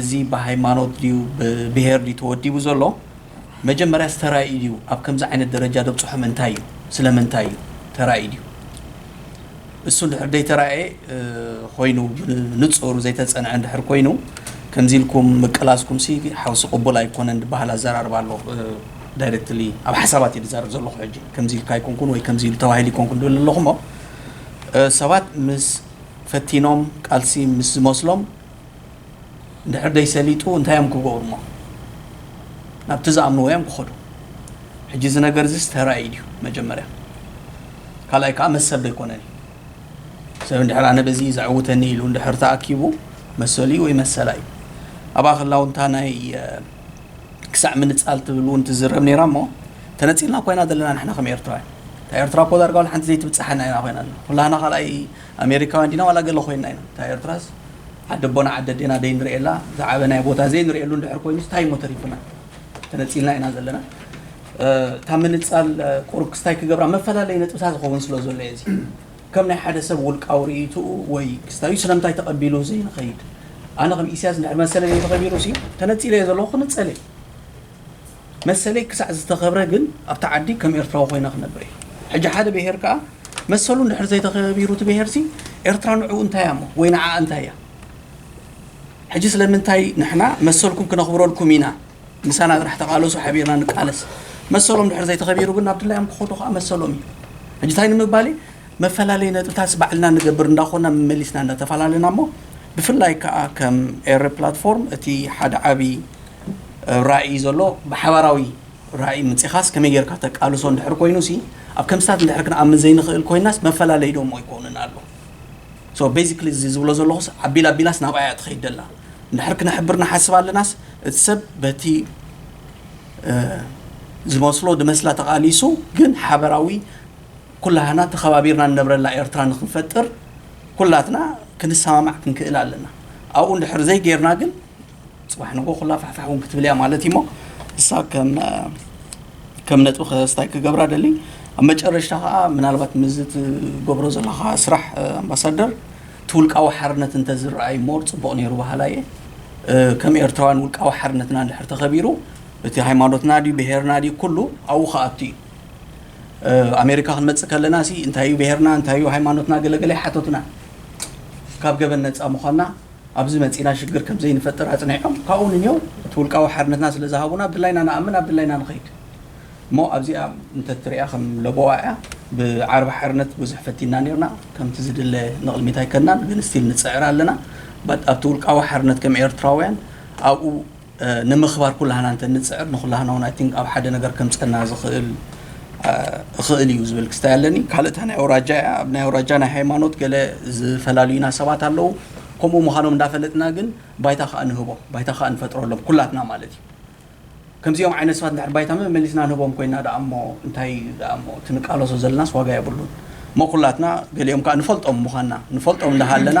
እዚ ብሃይማኖት ድዩ ብብሄር ድዩ ተወዲቡ ዘሎ መጀመርያስ ተራእዩ ድዩ ኣብ ከምዚ ዓይነት ደረጃ ደብጽሖም እንታይ እዩ ስለምንታይ እዩ ተራእዩ ድዩ እሱ እንድሕር ደይተራእየ ኮይኑ ብንጹር ዘይተጸንዐ እንድሕር ኮይኑ ከምዚ ኢልኩም ምቅላስኩምሲ ሓውሲ ቅቡል ኣይኮነን ድበሃል ኣዘራርባ ኣሎ ዳይረክትሊ ኣብ ሓሳባት እዩ ድዛረብ ዘለኹ ሕጂ ከምዚ ኢልካ ኣይኮንኩን ወይ ከምዚ ኢሉ ተባሂሉ ኣይኮንኩን ድብል ኣለኹሞ ሰባት ምስ ፈቲኖም ቃልሲ ምስ ዝመስሎም እንድሕር ደይሰሊጡ እንታይ እዮም ክገብሩሞ ናብቲ ዝኣምንዎ እዮም ክኸዱ ሕጂ እዚ ነገር እዚስ ተራእዩ ድዩ መጀመርያ ካልኣይ ከዓ መሰል ዶ ኣይኮነን እዩ ሰብ እንድሕር ኣነ በዚ ዘዕውተኒ ኢሉ እንድሕር ተኣኪቡ መሰሉ እዩ ወይ መሰላ እዩ ኣብኣ ከላ እውን እታ ናይ ክሳዕ ምንፃል ትብል እውን ትዝረብ ነይራ እሞ ተነፂልና ኮይና ዘለና ንሕና ከም ኤርትራውያን እታ ኤርትራ እኮ ዳርጋ ሓንቲ ዘይትብፅሓና ኢና ኮይና ኩላህና ካልኣይ ኣሜሪካውያን ዲና ዋላ ገለ ኮይንና ኢና እታ ኤርትራስ ዓዲ ኣቦና ዓዲ ኣዴና ደይንርኤላ ዝዓበናዮ ቦታ ዘይንርኤሉ እንድሕር ኮይኑስ ታይ እሞ ተሪፉና ተነጺልና ኢና ዘለና እታ ምንጻል ቁሩብ ክስታይ ክገብራ መፈላለይ ነጥብታት ዝኸውን ስለ ዘሎ እየ እዚ ከም ናይ ሓደ ሰብ ውልቃዊ ርእይትኡ ወይ ክስታዩ ስለምንታይ ተቐቢሉ ዘይንኸይድ ኣነ ከም ኢስያስ እንድሕር መሰለይ ዘይተኸቢሩሲ ተነጺለ እየ ዘለኹ ክንጸል እየ መሰለይ ክሳዕ ዝተኸብረ ግን ኣብታ ዓዲ ከም ኤርትራዊ ኮይነ ክነብር እየ። ሕጂ ሓደ ብሄር ከኣ መሰሉ እንድሕር ዘይተኸቢሩ እቲ ብሄርሲ ኤርትራ ንዕኡ እንታይ እያ እሞ ወይ ንዓኣ እንታይ እያ? ሕጂ ስለምንታይ ንሕና መሰልኩም ክነኽብረልኩም ኢና ምሳና ጥራሕ ተቓለሱ ሓቢርና ንቃለስ መሰሎም ድሕር ዘይተኸቢሩ ግን ናብ ድላዮም ክኸዱ ከኣ መሰሎም እዩ። ሕጂ እንታይ ንምባል እየ መፈላለዪ ነጥብታትስ ባዕልና ንገብር እንዳኾና መመሊስና እንዳተፈላለና እሞ ብፍላይ ከኣ ከም ኤረ ፕላትፎርም እቲ ሓደ ዓቢ ራኢ ዘሎ ብሓባራዊ ራኢ ምጺኻስ ከመይ ጌርካ ተቃልሶ እንድሕር ኮይኑሲ ኣብ ከምስታት እንድሕር ክንኣምን ዘይንኽእል ኮይናስ መፈላለይ ዶሞ ኣይኮንን ኣሎ ሶ ቤዚክሊ እዚ ዝብሎ ዘለኹስ ኣቢላ ኣቢላስ ናብኣ እያ ትኸይድ ደላ እንድሕር ክነሕብር ንሓስብ ኣለናስ እቲ ሰብ በቲ ዝመስሎ ድመስላ ተቃሊሱ ግን ሓበራዊ ኩላህና ተኸባቢርና ንነብረላ ኤርትራ ንክንፈጥር ኩላትና ክንሰማማዕ ክንክእል ኣለና ኣብኡ እንድሕር ዘይጌርና ግን ጽባሕ ንግሆ ኩላ ፋሕፋሕ እውን ክትብል እያ ማለት እዩሞ እሳ ከም ነጥቢ ክስታይ ክገብራ ደሊ ኣብ መጨረሽታ ከዓ ምናልባት ምዝ ትገብሮ ዘለካ ስራሕ ኣምባሳደር እቲ ውልቃዊ ሓርነት እንተዝረኣይ ሞር ፅቡቅ ነይሩ በሃላ እየ ከም ኤርትራውያን ውልቃዊ ሓርነትና እንድሕር ተኸቢሩ እቲ ሃይማኖትና ድዩ ብሄርና ድዩ ኩሉ ኣብኡ ከኣቱ እዩ ኣሜሪካ ክንመፅእ ከለና ሲ እንታይ እዩ ብሄርና እንታይ እዩ ሃይማኖትና ገለገለ ሓቶትና ካብ ገበን ነፃ ምዃንና ኣብዚ መጺእና ሽግር ከም ዘይንፈጥር ኣጽኒዖም ካብኡ ንኔው እቲ ውልቃዊ ሓርነትና ስለ ዝሃቡና ብድላይና ንኣምን ብ ድላይና ንኸይድ እሞ ኣብዚኣ እንተ ትሪኣ ከም ለበዋ እያ ብ ዓርቢ ሓርነት ብዙሕ ፈቲንና ኔርና ከምቲ ዝድለ ንቕልሚት ኣይከድናን ግን ስቲል ንጽዕር ኣለና በት ኣብቲ ውልቃዊ ሓርነት ከም ኤርትራውያን ኣብኡ ንምኽባር ኩላህና እንተ ንጽዕር ንኹላህና ውን i think ኣብ ሓደ ነገር ከምጸና ዝኽእል እኽእል ኢዩ ዝብል ክስታይ ኣለኒ ካልእ እታ ናይ ኣውራጃ ኢያ ኣብ ናይ ኣውራጃ ናይ ሃይማኖት ገለ ዝፈላልዩና ሰባት ኣለዉ ከምኡ ምዃኖም እንዳፈለጥና ግን ባይታ ከኣ ንህቦ ባይታ ከኣ ንፈጥረሎም ኩላትና ማለት ኢዩ ከምዚኦም ዓይነት ሰባት እንድሕር ባይታ መመሊስና ንህቦም ኮይና ደኣ እሞ እንታይ ኢዩ ደኣ እሞ እቲ ንቃለሶ ዘለናስ ዋጋ የብሉን እሞ ኩላትና ገሊኦም ከኣ ንፈልጦም ምዃንና ንፈልጦም እንዳሃለና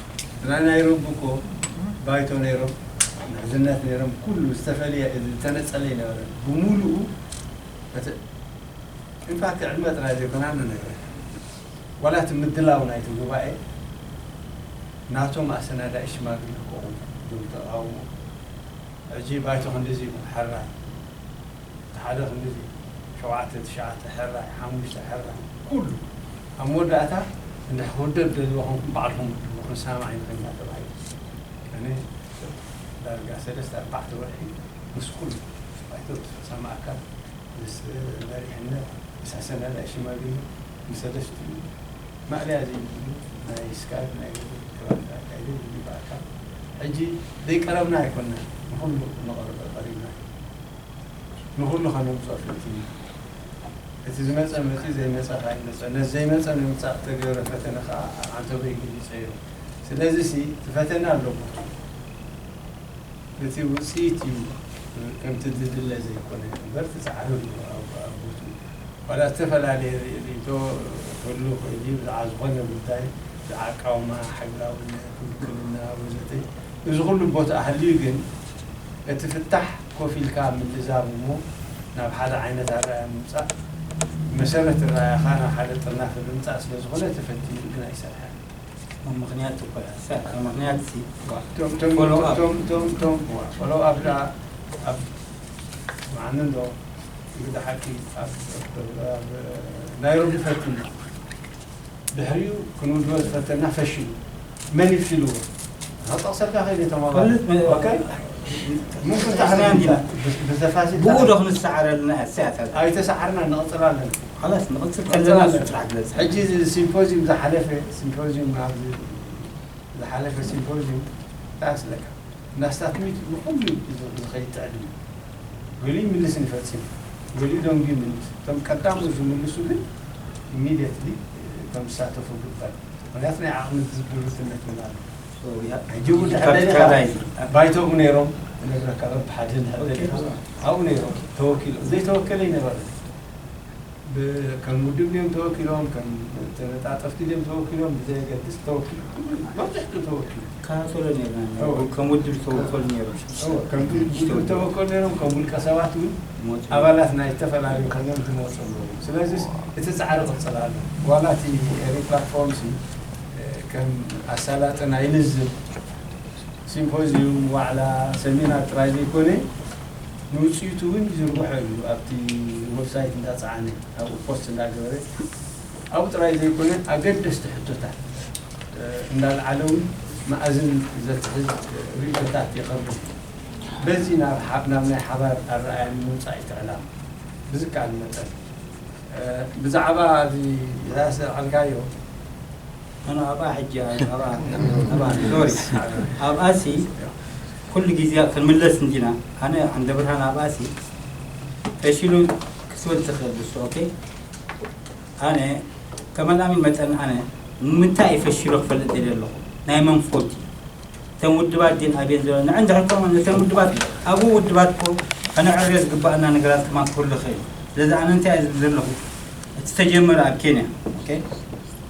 ናይ ናይሮቢ እኮ ባይቶ ነይሮም ምሕዝነት ነይሮም ኩሉ ዝተፈልየ ዝተነፀለ ኣይነበረን ብሙሉኡ እቲ ኢንፋክት ዕድመ ጥራይ ዘይኮነ ኣነ ነግረካ ዋላ እቲ ምድላው ናይቲ ጉባኤ ናቶም ኣሰናዳኢ ሽማግለ ከቕውሙ እዞም ተቓውሞ ሕጂ ባይቶ ክንድዚ ኢሉ ክሕራይ እቲ ሓደ ክንድዚ ሸውዓተ ትሽዓተ ሕራይ ሓሙሽተ ሕራይ ኩሉ ኣብ መወዳእታ እንድሕር ክውደብ ትደልይዎ ኮንኩም ባዕልኩም ውድብዎ ክንሰማማዕ ኢና እንዳ ተባሂሉ ኣነ ዳርጋ ሰለስተ ኣርባዕተ ወርሒ ምስ ኩሉ ባይቶ ምስ ፈጻሚ ኣካል ምስ መሪሕነት ምስ ኣሰናዳኢ ሽማግለ ምስ ሰለስቲኡ ማእለያ ዘይብሉ ናይ ስካይፕ ናይ ውድብ ከባቢት ኣካይደ ብግብኣካ ሕጂ ዘይቀረብና ኣይኮናን ንኹሉ ንቐረበ ቀሪብና ኢና። ንኹሉ ከነምጽኦ ፈቲና። እቲ ዝመጸ መጺኡ ዘይመጸ ከኣ ይመጸ። ነቲ ዘይመጸ ንምምጻእ እተገብረ ፈተነ ከኣ ኣብ ዓንተቦይ ገሊጸዮ። ስለዚሲ እቲ ፈተነ ኣሎ ቦትኡ። እቲ ውጽኢት እዩ ከምቲ ዝድለ ዘይኮነ እምበር እቲ ጻዕሪ ኣሎ ኣብ ቦትኡ። ዋላ እተፈላለየ ርእይቶ ክህሉ ይኽእል እዩ ብዛዕባ ዝኾነ ጉዳይ ብዛዕባ ኣቃውማ፣ ሕጋውነት፣ ውክልና ወዘተ። እዚ ኩሉ ቦትኣ ሃልዩ ግን እቲ ፍታሕ ኮፍ ኢልካ ምልዛብ እሞ ናብ ሓደ ዓይነት ኣረኣእያ ምምጻእ ብመሰረት እረኣእያኻ ናብ ሓደ ጥርናፈ ብምጻእ ስለ ዝኾነ ተፈቲኑ ግን ኣይሰርሐን። እቶም ምኽንያት ትኩላስ እታ ምኽንያት ሲ እባ እቶም ፎሎው ኣፕ እቶም እቶም እቶም እዋ ፎሎው ኣፕ ደኣ ኣብ ስምዓኒ እንዶ እንግዳ ሓቂ ኣብ ናይሮቢ ፈቲና። ድሕሪኡ ክንውድቦ ዝፈተና ፈሺሉ መን እዩ ፊልዎ ክጠቕሰልካ ክኢለ ተማባሪ ብኡ ዶ ክንሰዓር ኣለና ኣይተሰዓርና ንቕፅል ኣለና ሕጂ እዚ ሲምፖዚዩም ዝሓለፈ ሲምፖዚዩም ዝሓለፈ ሲምፖዚዩም እንታይ መስለካ እንዳስታትሚት ንኹሉ እዩ ዝኸይድ ትዕድሚት ገሊኡ ይምልስን ይፈጽምን ገሊኡ ደንጉዩ ይምልስ እቶም ቀዳሞት ዝምልሱ ግን ኢሚድየትሊ እቶም ዝሳተፉ ግበር ምኽንያቱ ናይ ዓቕሚ ዝድርትነት እውን ኣሎ ሕጂ እውን እንድሕር ደሊኻ ባይቶኡ ነይሮም ክነግረካ በብሓደ እንድሕር ደሊኻ ኣብኡ ነይሮም ተወኪሎም ዘይተወከለ ኣይነበረን። ብ ከም ውድብ ድዮም ተወኪሎም ከም ተነጣጠፍቲ ድዮም ተወኪሎም ብዘየገድስ ተወኪሎም ኩሉ መብዝሕትኡ ተወኪሉ። ይከታተሎ ኔርና ኢና እወ ከም ውድብ ዝተወከሉ ኔሮም ሽዱሽተ እወ ከም ውድብ ሽዱሽተ ውድባት። ዝተወከሉ ኔሮም ከም ውልቀ ሰባት ውን ይመጹ ኔሮም። ኣባላት ናይ ዝተፈላለዩ ኮይኖም ዝመጹ ኣለዉ ስለዚስ እቲ ጻዕሪ ክቅጽል ኣለዎ ዋላ እቲ ኤሪ ፕላትፎርም ሲ ከም ኣሳላጢ ናይ ልዝብ ሲምፖዝዩም ዋዕላ ሰሚናር ጥራይ ዘይኮነ ንውፅኢቱ እውን ይዝርግሖ እዩ ኣብቲ ወብሳይት እንዳፀዓነ ኣብኡ ፖስት እንዳገበረ ኣብኡ ጥራይ ዘይኮነ ኣገደስቲ ሕቶታት እንዳልዓለ እውን መኣዝን ዘትሕዝ ሪኢቶታት የቐርብ እዩ በዚ ናብ ናብ ናይ ሓባር ኣረኣእያ ንምምፃእ እዩ እቲ ዕላማ ብዝከኣል መጠን ብዛዕባ እዚ ኢሳያስ ዘልዓልካዮ ኣነ ኣብኣ ሕጂ ኣብኣ ኣብኣ ሶሪ ኣብኣሲ ኩሉ ግዜ ክንምለስ እንዲና ኣነ ዓንደብርሃን ኣብኣሲ ፈሽሉ ክስወድ ዝኽእል ብሱ ኦኬ ኣነ ከመልኣሚ መጠን ኣነ ንምንታይ ፈሽሎ ክፈልጥ የለ ኣለኹ ናይ መን ፎልት እዩ እተን ውድባት ግን ኣብየን ዘሎ ንዕ እንድሕር ኮ እተን ውድባት ኣብኡ ውድባት ኮ ከነዕርዮ ዝግባኣና ነገራት ከማ ክህሉ ይኽእል እዩ ስለዚ ኣነ እንታይ እየ ዝብል ዘለኹ እቲ ተጀመረ ኣብ ኬንያ ኦኬ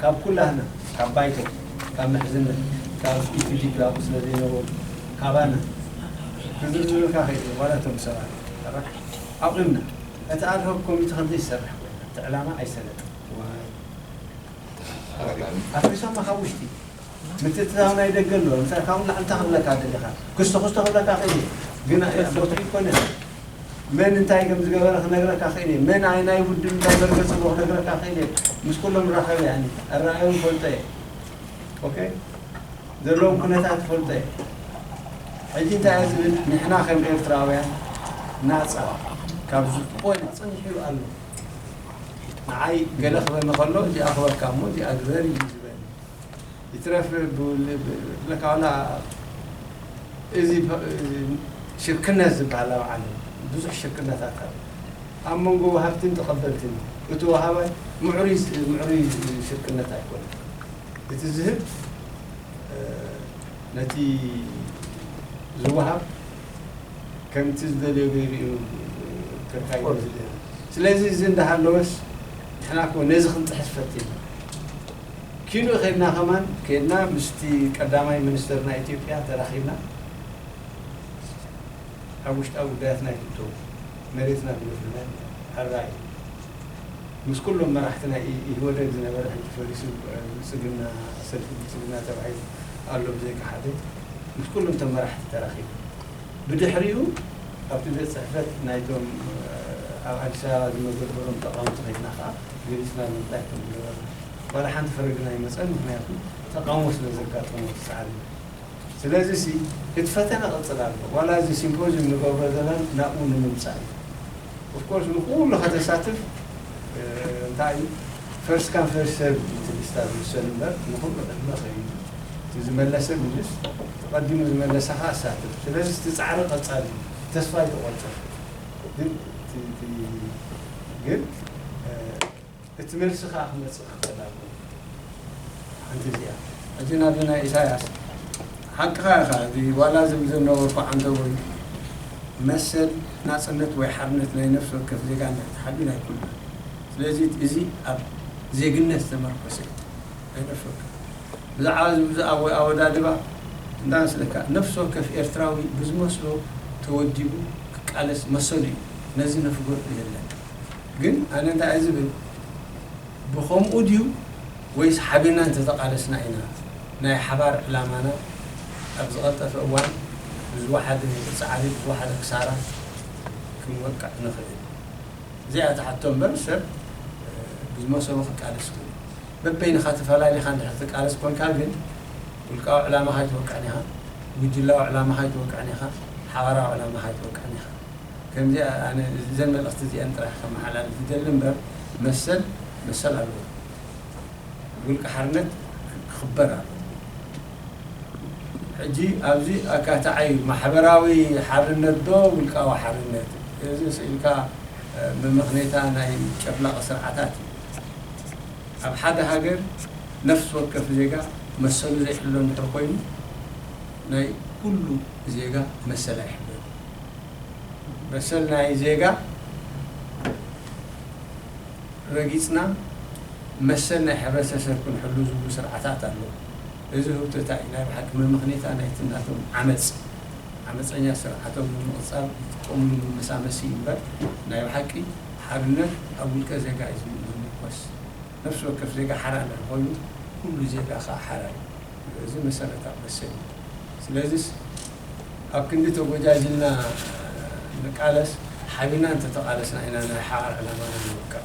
ካብ ኩላህና ካብ ባይቶ ካብ ምሕዝነት ካብ ኢፕዲፒ ኣብኡ ስለ ዘይነበሩ ካባና ክዝርዝርልካ ከይደሊ ዋላ እቶም ሰባት ጥራሕ ኣቑምና እቲ ኣድሆክ ኮሚቲ ከም ዘይሰርሕ ኮይና እቲ ዕላማ ኣይሰለጠን ዋይ ኣፍሪሶማ ካብ ውሽጢ ምትእትታው ናይ ደገ ኣሎ ለምሳሌ ካብኡ ንላዕሊ እንታይ ክብለካ ደሊኻ ክስቶ ክስቶ ክብለካ ክእል እየ ግን ዶክትሪን ኮነ መን እንታይ ከም ዝገበረ ክነግረካ ክእል እየ መን ኣይ ናይ ውድብ እንታይ መርገጽዎ ክነግረካ ክእል እየ ምስ ኩሎም ራኸብ ያኒ ኣረኣዮም ፈልጦ እየ ኦኬ ዘለዎም ኩነታት ፈልጦ እየ ሕጂ እንታይ እየ ዝብል ንሕና ከም ኤርትራውያን ናጻ ካብ ዝኾነ ጽንሒሉ ኣሎ ንዓይ ገለ ክበኒ ከሎ እዚኣ ክበካ እሞ እዚኣ ግበሪ እዩ ይትረፍ ብለካ ዋላ እዚ ሽርክነት ዝብሃል ኣብ ዓለም ብዙሕ ሽርክነታት ኣሎ ኣብ መንጎ ወሃብትን ተቐበልትን እዩ እቲ ወሃባይ ምዕሩይ ምዕሩይ ሽርክነት ኣይኮነን እቲ ዝህብ ነቲ ዝወሃብ ከምቲ ዝደልዮ ገይሩ እዩ ክርካዮ ዝደሊ ስለዚ እዚ እንዳሃለወስ ንሕና እኮ ነዚ ክንጥሕስ ፈቲና ኪኖ ከድና ከማን ከድና ምስቲ ቀዳማይ ምንስተር ናይ ኢትዮጵያ ተራኺብና ኣብ ውሽጣዊ ጉዳያትና ኣይትእተው መሬትና ብምፍርናይ ሕራይ ምስ ኩሎም መራሕቲ ናይ ኢህወደግ ዝነበረ ሕጂ ፈሪሱ ብልጽግና ሰልፊ ብልጽግና ተባሂሉ ኣሎ ብዘይካ ሓደ ምስ ኩሎም እቶም መራሕቲ ተራኺቡ ብድሕሪኡ ኣብቲ ቤት ጽሕፈት ናይቶም ኣብ ኣዲስ ኣበባ ዝመደበሮም ተቓወምቲ ከድና ከኣ ገሊፅና ንምንታይ ከም ዝነበረ ዋላ ሓንቲ ፍረ ግን ኣይመፀን ምኽንያቱ ተቃውሞ ስለ ዘጋጠሞ እቲ ፃዕሪ ስለዚ ሲ እቲ ፈተነ ቅፅል ኣሎ ዋላ እዚ ሲምፖዝዩም ንገብሮ ዘለና ናብኡ ንምምፃእ እዩ ኦፍ ኮርስ ንኩሉ ከተሳትፍ እንታይ እዩ ፈርስት ካም ፈርስት ሰርቭ እዩ እቲ ሊስታ ዝውሰን እምበር ንኩሉ ቅድመ ከይዱ እቲ ዝመለሰ ምልስ እቲ ቀዲሙ ዝመለሰ ከዓ ኣሳትፍ ስለዚ እቲ ፃዕሪ ቀፃሊ እዩ ተስፋ ኣይተቆርፅን ግን እቲ ግን እቲ መልሲ ከኣ ክመጽእ ክኽእል ኣለዎ ሓንቲ እዚኣ እዚ ናብ ናይ ኢሳያስ ሓቅኻ ኢኻ እዚ ዋላ ዝብል ዝነበርኩ ዓንተቦይ መሰል ናጽነት ወይ ሓርነት ናይ ነፍሲ ወከፍ ዜጋ እንድሕር ተሓልዩ ናይ ኩልና ስለዚ እዚ ኣብ ዜግነት ዝተመርኮሰ እዩ ኣይነፍርካን ብዛዕባ እዚ ብዝኣ ወይ ኣወዳድባ እንዳመስለካ ነፍሲ ወከፍ ኤርትራዊ ብዝመስሎ ተወዲቡ ክቃለስ መሰሉ እዩ ነዚ ነፍጎ የለን ግን ኣነ እንታይ እየ ዝብል ብኸምኡ ድዩ ወይስ ሓቢርና እንተተቃለስና ኢና ናይ ሓባር ዕላማና ኣብ ዝቀልጠፈ እዋን ብዝወሓደ ጻዕሪ ብዝወሓደ ክሳራ ክንወቅዕ ንኽእል። እዚኣ ትሓቶ እምበር ሰብ ብዝመሰሎ ክቃለስ ይኽእል እዩ። በበይንኻ ተፈላሊኻ እንድሕር ትቃለስ ኮንካ ግን ውልቃዊ ዕላማኻ ኣይትወቅዕን ኢኻ፣ ጉጅላዊ ዕላማኻ ኣይትወቅዕን ኢኻ፣ ሓባራዊ ዕላማኻ ኣይትወቅዕን ኢኻ። ከምዚኣ ኣነ እዘን መልእኽቲ እዚኤን ጥራሕ ከመሓላልፍ ይደሊ እምበር መሰል መሰል ኣለዎ። ውልቀ ሓርነት ክኽበር ኣለዎ። ሕጂ ኣብዚ ኣካታዒ ማሕበራዊ ሓርነት ዶ ውልቃዊ ሓርነት እዚ ስእልካ መመኽኔታ ናይ ጨፍላቒ ስርዓታት እዩ። ኣብ ሓደ ሃገር ነፍሲ ወከፍ ዜጋ መሰሉ ዘይሕሎ እንድሕር ኮይኑ ናይ ኩሉ ዜጋ መሰል ኣይሕሎን እዩ። መሰል ናይ ዜጋ ረጊጽና መሰል ናይ ሕብረተሰብ ክንሕሉ ዝብሉ ስርዓታት ኣለዉ። እዚ ህውተታ እዩ ናይ ብሓቂ መመኽኔታ ናይቲ ናቶም ዓመጽ። ዓመጸኛ ስርዓቶም ንምቕጻል ዝጥቀምሉ መመሳመሲ እዩ እምበር ናይ ብሓቂ ሓርነት ኣብ ውልቀ ዜጋ እዩ ዝምርኮስ። ነፍሲ ወከፍ ዜጋ ሓራ እንድሕር ኮይኑ ኩሉ ዜጋ ከኣ ሓራ እዩ። እዚ መሰረታዊ መሰል እዩ። ስለዚስ ኣብ ክንዲ ተጎጃጂልና ንቃለስ ሓቢርና እንተተቓለስና ኢና ናይ ሓራ ዕላማና ንምብቃዕ።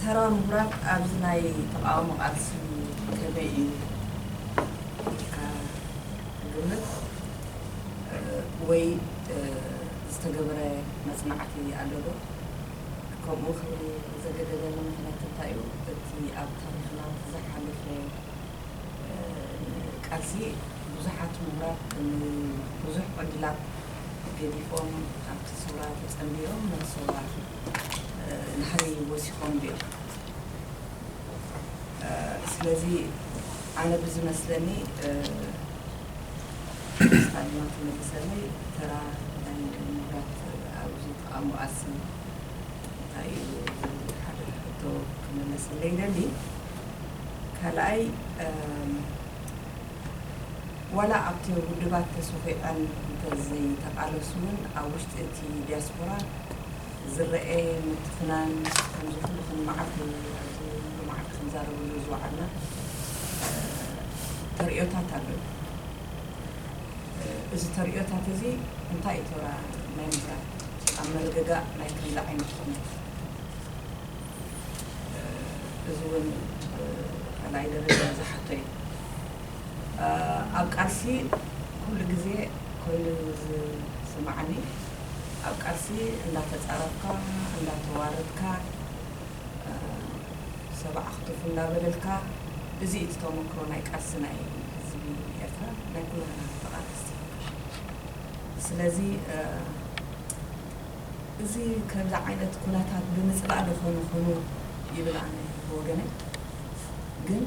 ተራ ምሁራት ኣብዚ ናይ ተቓውሞ ቃልሲ ከመይ እዩ ኢልካ ትግምት? ወይ ዝተገብረ መጽናዕቲ ኣሎ ዶ? ከምኡ ክብል ዘገደደኒ ምኽንያት እንታይ እዩ? እቲ ኣብ ታሪኽና ዝሓለፈ ቃልሲ ብዙሓት ምሁራት ንብዙሕ ዕድላት ገዲፎም ኣብቲ ሰውራ ተጸንቢሮም መስዋእቲ ንሃይ ወሲኾም ድዮም ስለዚ ኣነ ብዝመስለኒ ስታ ድማ ትመልሰለይ ተራ ናይ ምሁራት ኣብዚ ተቓምኣሲ እንታይ እዩ ዝብል ሓደ ሕቶ ክምለሰለይ ይደሊ ካልኣይ ዋላ ኣብቲ ውድባት ተሶኺዐን እንተዘይተቓለሱ ውን ኣብ ውሽጢ እቲ ዲያስፖራ ዝረኤ ምትፍናን ከምዚ ኩሉ ኩን መዓልቲ ኣብዚ ሎማዓንቲ ክንዛረበሉ ዝወዓልና ተርእዮታት ኣሎ ዩ። እዚ ተርእዮታት እዚ እንታይ ዩ ተራ ናይ ምሁራት ኣብ ምርግጋእ ናይ ከምዚ ዓይነት ኩነት? እዚ እውን ካልኣይ ደረጃ ዝሓቶ እዩ። ኣብ ቃልሲ ኩሉ ግዜ ኮይኑ ዝስማዓኒ ኣብ ቃልሲ እንዳተጻረፍካ እንዳተዋረድካ ሰብ ዓኽቱፍ እንዳበለልካ እዚ እዩ እቲ ተመክሮ ናይ ቃልሲ ናይ ህዝቢ ኤርትራ ናይ ኩላትና ተቃለስቲ ስለዚ እዚ ከምዚ ዓይነት ኩነታት ብምጽላእ ዶ ኮን ኩኑ ይብል ኣነ ብወገነይ ግን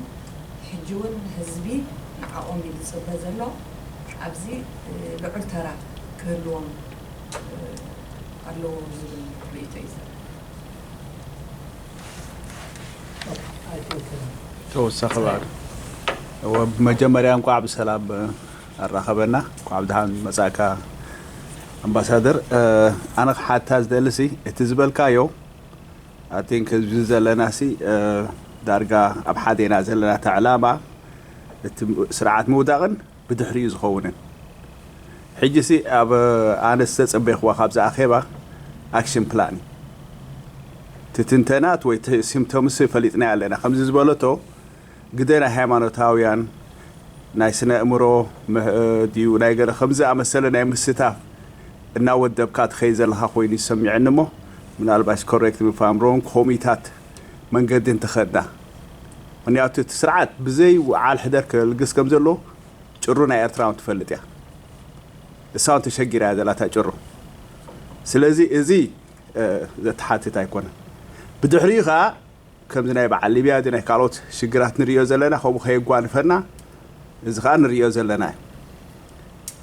ሕጂ ውን ህዝቢ ንዓኦም እዩ ዝጽበ ዘሎ ኣብዚ ልዑል ተራ ክህልዎም ኣለዎ ዝብል ርእይቶ እዩ ዘለኒ። ተወሳኺ ባዕሉ እወ ብመጀመርያ እንቋዕ ብሰላም ኣራኸበና እንኳዕ ብደሓን መፃእካ ኣምባሳደር ኣነ ክሓታ ዝደሊ ሲ እቲ ዝበልካዮ ኣቲንክ ህዝቢ ዘለና ሲ ዳርጋ ኣብ ሓደ ኢና ዘለና እቲ ዕላማ እቲ ስርዓት ምውዳቕን ብድሕሪኡ ዝኸውንን ሕጂ ሲ ኣብ ኣነ ዝተፀበይክዋ ካብዚ ኣኼባ ኣክሽን ፕላን ትትንተናት ወይ ሲምቶምስ ፈሊጥናዮ ኣለና ከምዚ ዝበለቶ ግደ ናይ ሃይማኖታውያን፣ ናይ ስነ-ኣእምሮ ድዩ ናይ ገለ ከምዚ ዝኣመሰለ ናይ ምስታፍ እናወደብካ ትኸይድ ዘለኻ ኮይኑ ይሰሚዐኒ እሞ ምናልባሽ correct me if I'm wrong ኮሚታት መንገዲ እንተኸድና ምኽንያቱ እቲ ስርዓት ብዘይ ውዓል ሕደር ከልግስ ከም ዘለዎ ጭሩ ናይ ኤርትራ ውን ትፈልጥ እያ እሳ ውን ተሸጊራ እያ ዘላ እታ ጭሩ ስለዚ እዚ ዘተሓትት ኣይኮነን ብድሕሪኡ ከኣ ከምዚ ናይ በዓል ሊብያ እዚ ናይ ካልኦት ሽግራት ንርእዮ ዘለና ከምኡ ከየጓንፈና እዚ ከኣ ንርእዮ ዘለና እዩ።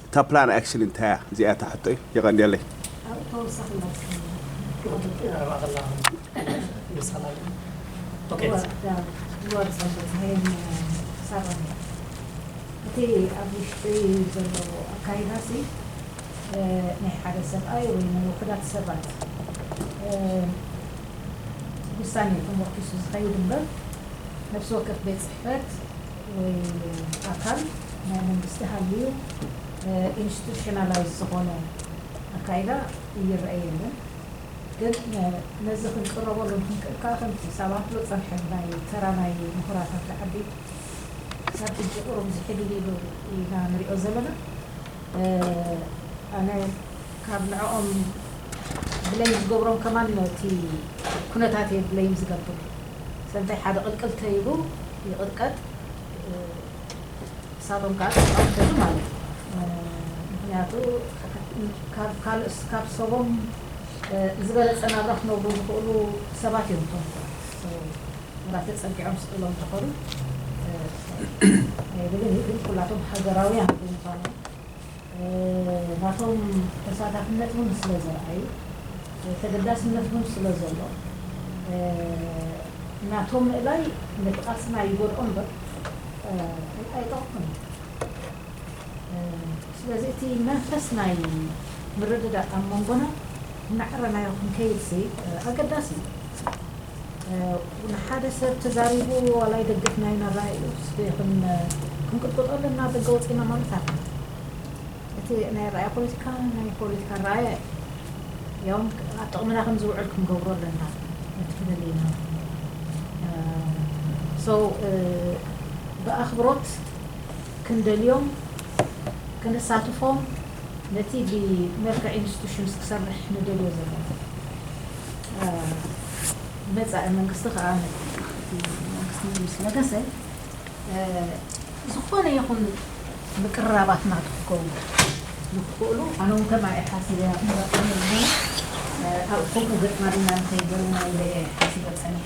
እታ ፕላን ኣክሽን እንታይ እያ እዚኣ እታ ሕቶይ። የቀንየለይ። ኣብ ተወሳኺ እቲ ኣብ ውሽጢ ዘሎ ኣካይዳ ሲ ናይ ሓደ ሰብኣይ ወይ ናይ ውሑዳት ሰባት ውሳኔ ተሞርኪሱ ዝኸይድ እምበር ነፍሲ ወከፍ ቤት ጽሕፈት ወይ ኣካል ናይ መንግስቲ ሃልዩ ኢንስቱሽናላይዝ ዝኾነ ኣካይዳ ይረኤ የለን። ግን ነዚ ክንቅረበሉን ክንክእል ከኣ ከምቲ ሳባትሎ ጸንሐ ብናይ ተራ ናይ ምሁራት ኣብቲ ዓዲ ክሳብ ሕጂ ቁሩብ ዝሕድሂሉ ኢና ንሪኦ ዘለና። ኣነ ካብ ንዕኦም ብለይም ዝገብሮም ከማን ነቲ ኩነታት እየ ብለይም ዝገብር ሰብ እንታይ ሓደ ቅልቅል ተይሉ ይቅጥቀጥ ንሳቶም ከኣ ተቃውም ተይሉ ማለት ምክንያቱ ካብ ካልእ ካብ ሰቦም ዝበለጸ ናብራ ክነብሩ ዝክእሉ ሰባት እዮም እቶም ሰባት ወላ ተጸጊዖም ስቅ ኢሎም እንተከዱ ኣይብልን እዩ ግን ኩላቶም ሃገራውያን ብምኳኖም ናቶም ተሳታፍነት እውን ስለ ዘርኣዩ፣ ተገዳስነት እውን ስለ ዘሎ፣ ናቶም ምእላይ ነቲ ቃልስና ይጎድኦ እምበር ኣይጠቕሞን እዩ። ስለዚ እቲ መንፈስ ናይ ምርድዳእ ኣብ መንጎና እናዕረናዮ ክንከይድሲ ኣገዳሲ እዩ። ንሓደ ሰብ ተዛሪቡ ዋላ ይደግፍ ናይ ናራኣይኡ ክንቅጥቅጦ ኣለና ደገ ወፂና ማለት ኣለ እቲ ናይ ኣራኣያ ፖለቲካ ናይ ፖለቲካ ኣራኣያ እዩ ያው ኣብ ጥቕምና ከም ዝውዕል ክንገብሮ ኣለና ነቲ ክንል ኢና ሰው ብኣኽብሮት ክንደልዮም ክንሳትፎም ነቲ ብመልክዕ ኢንስቱሽንስ ክሰርሕ ንደልዮ ዘለና መጻኢ መንግስቲ ከኣ ነቲ መንግስቲ ምስ ነገሰ ዝኾነ ይኹን ምቅርራባት ናቱ ክከውን ንክኽእሉ ኣነ ውን ከም ኣየ ሓሲበ ኣብ መረጻ ምእመን ኣብ ኮምኡ ገጥማልና ንከይበሉና ኢለ እየ ሓሲበ ጸኒሐ።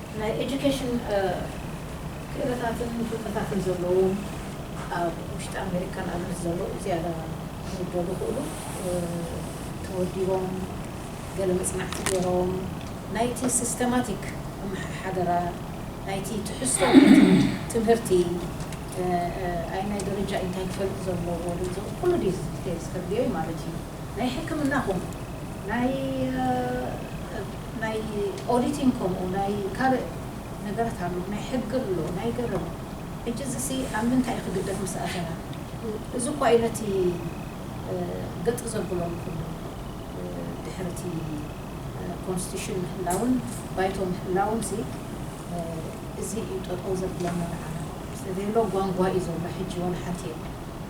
ናይ ኤጁኬሽን ክእለታትን ፍልጠታትን ዘለዎም ኣብ ውሽጢ ኣሜሪካ ንኣብነት ዘለዉ ዝያዳ ክውደቡ ይኽእሉ። ተወዲቦም ገለ መጽናዕቲ ገይሮም ናይቲ ሲስተማቲክ ኣመሓሓደራ ናይቲ ትሕዝቶ ናይቲ ትምህርቲ ኣይናይ ደረጃ ኢንታይ ክፈልጥ ዘለዎ ድምጽ ኩሉ ዲቴልስ ከድልዮ ኢዩ ማለት ኢዩ ናይ ሕክምና ኹን ናይ ናይ ኦዲቲንግ ከምኡ ናይ ካልእ ነገራት ኣሎ ናይ ሕጊ ኣሎ ናይ ገረብ ሕጂ እዚሲ ኣብ ምንታይ እዩ ክግደፍ ምስ ኣተና እዚ እኳ እዩ ነቲ ገጥ ዘብሎ ንኹሉ ድሕሪ እቲ ኮንስቲቱሽን ምህላውን ባይቶ ምህላውንሲ እዚ እዩ ጠጠው ዘብለና ንዓና ስለዘየሎ ጓንጓ እዩ ዘሎ ሕጂ ዋላ ሓንቲ የለን።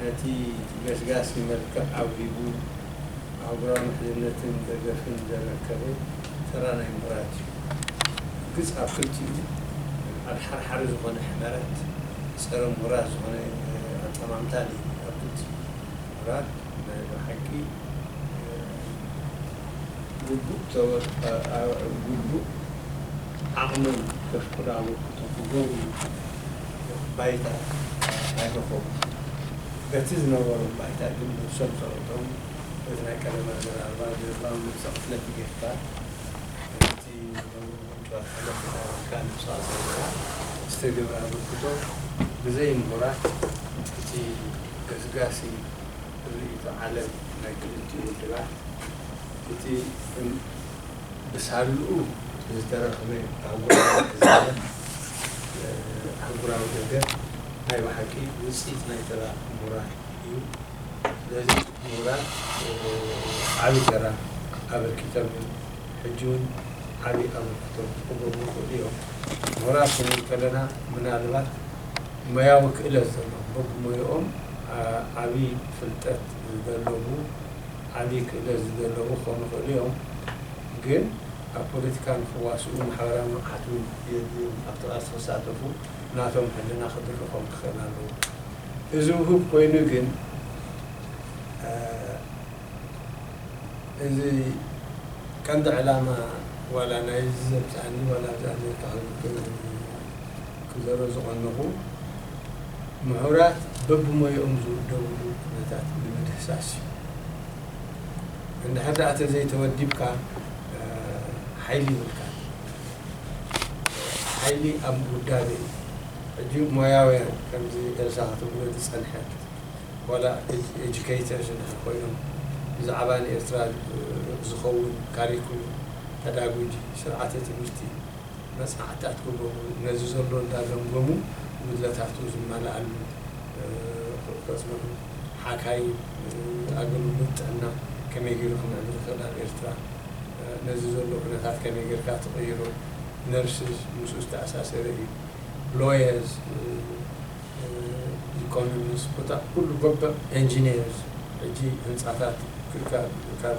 ነቲ ገስጋሲ መልክዕ ኣውሂቡ ኣህጉራዊ ምሕዝነትን ደገፍን ዘረከበ ተራ ናይ ምሁራት እዩ። ብርግጽ ኣብ ክልቲኡ ኣድሓርሓሪ ዝኾነ ሕመረት፣ ጸረ ምሁራት ዝኾነ ኣጠማምታ ነይሩ ኣብ ክልቲኡ። ምሁራት ናይ ብሓቂ ግቡእ ዓቕሞም ከፍቅዱ ኣበርክቶ ክገብሩ፣ ባይታ ኣይረኸቡን። በቲ ዝነበሮም ባይታ ግን ነብሶም ተረቶም በቲ ናይ ቀደም ኣዘራርባ ድርባም ነብሰ ቅትለት ይገድፋ። ከምቲ ነውሪ ምንጩ ኣልዓሎ ተዛሪብካ ነብሰ ቅትለትካ ዝተገብረ ኣበርክቶ ብዘይ ምሁራት እቲ ገስጋሲ ርእይቶ ዓለም ናይ ክልቲኡ ውድባት እቲ ብሳልኡ ዝተረኽበ ኣህጉራዊ ትእዛዘን ኣህጉራዊ ደገፍ ናይ ብሓቂ ውጽኢት ናይ ተራ ምሁራት እዩ። ስለዚ ምሁራት ዓቢ ተራ ኣበርኪቶም እዮም። ሕጂውን ዓቢ ኣበርክቶ ክገብሩ ይኽእሉ እዮም። ምሁራት ክንብል ከለና ምናልባት ሞያዊ ክእለት ዘለዎም፣ በብሞያኦም ዓቢ ፍልጠት ዘለቡ፣ ዓቢ ክእለት ዝደለቡ ክኾኑ ይኽእሉ እዮም፣ ግን ኣብ ፖለቲካ ንኽዋስኡ ማሕበራዊ ንቕሓት እውን የድልዮም። ኣብቲ ቃልሲ ክሳተፉ ናቶም ሕልና ክድርኾም ክኽእል ኣለዎ። እዚ ውሁብ ኮይኑ ግን እዚ ቀንዲ ዕላማ ዋላ ናይዚ ዘምጽኣኒ ዋላ ኣብዛ ኣሜሪካ ክግበር እዩ፣ ክዘሮ ዝቐነኹ ምሁራት በብሞይኦም ዝውደብሉ ኩነታት ንምድህሳስ እዩ። እንድሕር ደኣ ተዘይተወዲብካ ሓይሊ ይብልካን። ሓይሊ ኣብ ውዳበ እዩ። ሕጂ ሞያውያን ከምዚ ኤልሳ ክትብሎ ዝጸንሐት ዋላ ኤጁኬተርስ እንድሕር ኮይኖም ብዛዕባ ንኤርትራ ዝኸውን ካሪኩሉም፣ ፐዳጉጂ፣ ስርዓተ ትምህርቲ፣ መጽናዕትታት ክገብሩ፣ ነዚ ዘሎ እንዳ ገምገሙ ጉድለታቱ ዝማላኣሉ ከጽንዑ፣ ሓካይም ኣገልግሎት ጥዕና ከመይ ጌሩ ክምዕብል ይኽእል ኣብ ኤርትራ፣ ነዚ ዘሎ ኩነታት ከመይ ጌርካ ትቕይሮ፣ ነርስስ ምስኡ ዝተኣሳሰረ እዩ፣ ሎየርስ፣ ኢኮኖሚስ፣ ኮታ ኩሉ በበ፣ ኤንጂኔርስ፣ ሕጂ ህንጻታት ክካብ ካብ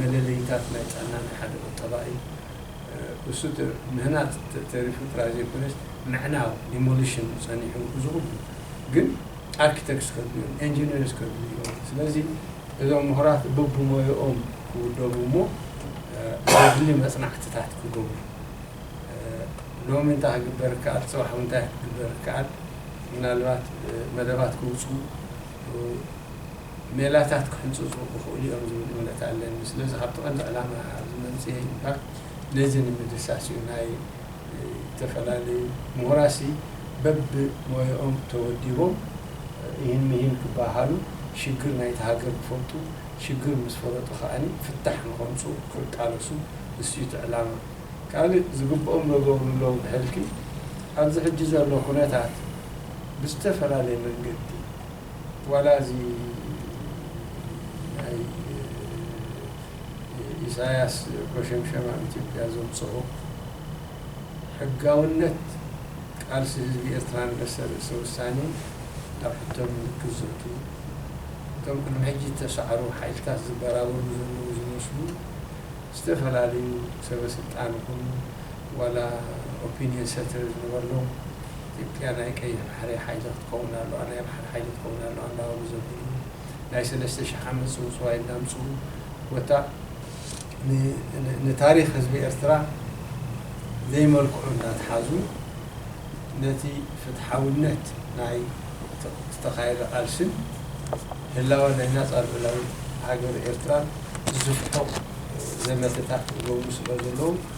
መለለዪታት ናይ ጥዕና ናይ ሓደ ቁጠባ እዩ። እሱ ምህናጽ ተሪፉ ጥራይ ዘይኮነስ ምዕናው፣ Demolition፣ ጸኒሑ እዚ ኩሉ ግን ኣርኪተክስ ከድልዮም ኤንጂነርስ ከድልዮም ስለዚ እዞም ምሁራት በብሞያኦም ክውደቡ እሞ ዘድሊ መጽናዕትታት ክገብሩ ሎሚ እንታይ ክግበር ይከኣል ጽባሕ እውን እንታይ ክግበር ይከኣል ምናልባት መደባት ክውጽኡ ሜላታት ክሕንጽጹ ክኽእሉ እዮም ዝብል እምነት ኣለኒ። ስለዚ ካብቲ ቀንዲ ዕላማ ኣብዚ መምጽኤ እዩ'ምበር ነዚ ንምድህሳስ እዩ። ናይ ዝተፈላለዩ ምሁራትሲ በብሞያኦም ተወዲቦም እሂን ምሂን ክበሃሃሉ ሽግር ናይታ ሃገር ክፈልጡ ሽግር ምስ ፈለጡ ከኣ ፍታሕ ንኸምጽኡ ክቃለሱ ንሱ እዩ እቲ ዕላማ። ካልእ ዝግብኦም ዶ ገብሩ ኣለዉ ብሕልፊ ኣብዚ ሕጂ ዘሎ ኩነታት ብዝተፈላለየ መንገዲ፣ ዋላ እዚ ናይ ኢሳያስ ኮሸምሸም ኣብ ኢትዮጵያ ዘምጽኦ ሕጋውነት ቃልሲ ህዝቢ ኤርትራ ንመሰል ርእሰ ውሳኔ ኣብ ሕቶ ምልክት ዘእቱ እቶም ቅድሚ ሕጂ እተሳዕሩ ሓይልታት ዝበራበሩ ዘለዉ ዝመስሉ ዝተፈላለዩ ሰበ ስልጣን ይኹኑ ዋላ ኦፒንየን ሰትር ዝነበርሉ ኢትዮጵያ ናይ ቀይሕ ባሕሪ ሓይሊ ክትከውን ኣለዋ ናይ ባሕሪ ሓይሊ ክትከውን ኣለዋ እንዳበሉ ዘብልሉ ናይ ሰለስተ ሽሕ ዓመት ጽውጽዋይ እንዳምጽኡ ኮታ ንታሪኽ ህዝቢ ኤርትራ ዘይመልክዑ እንዳትሓዙ ነቲ ፍትሓውነት ናይ ዝተኻየደ ቃልስን ህላወ ናይ ናጻ ልኡላዊት ሃገር ኤርትራን ዝስፍሑ ዘመተታት ዝገብሩ ስለዘለዉ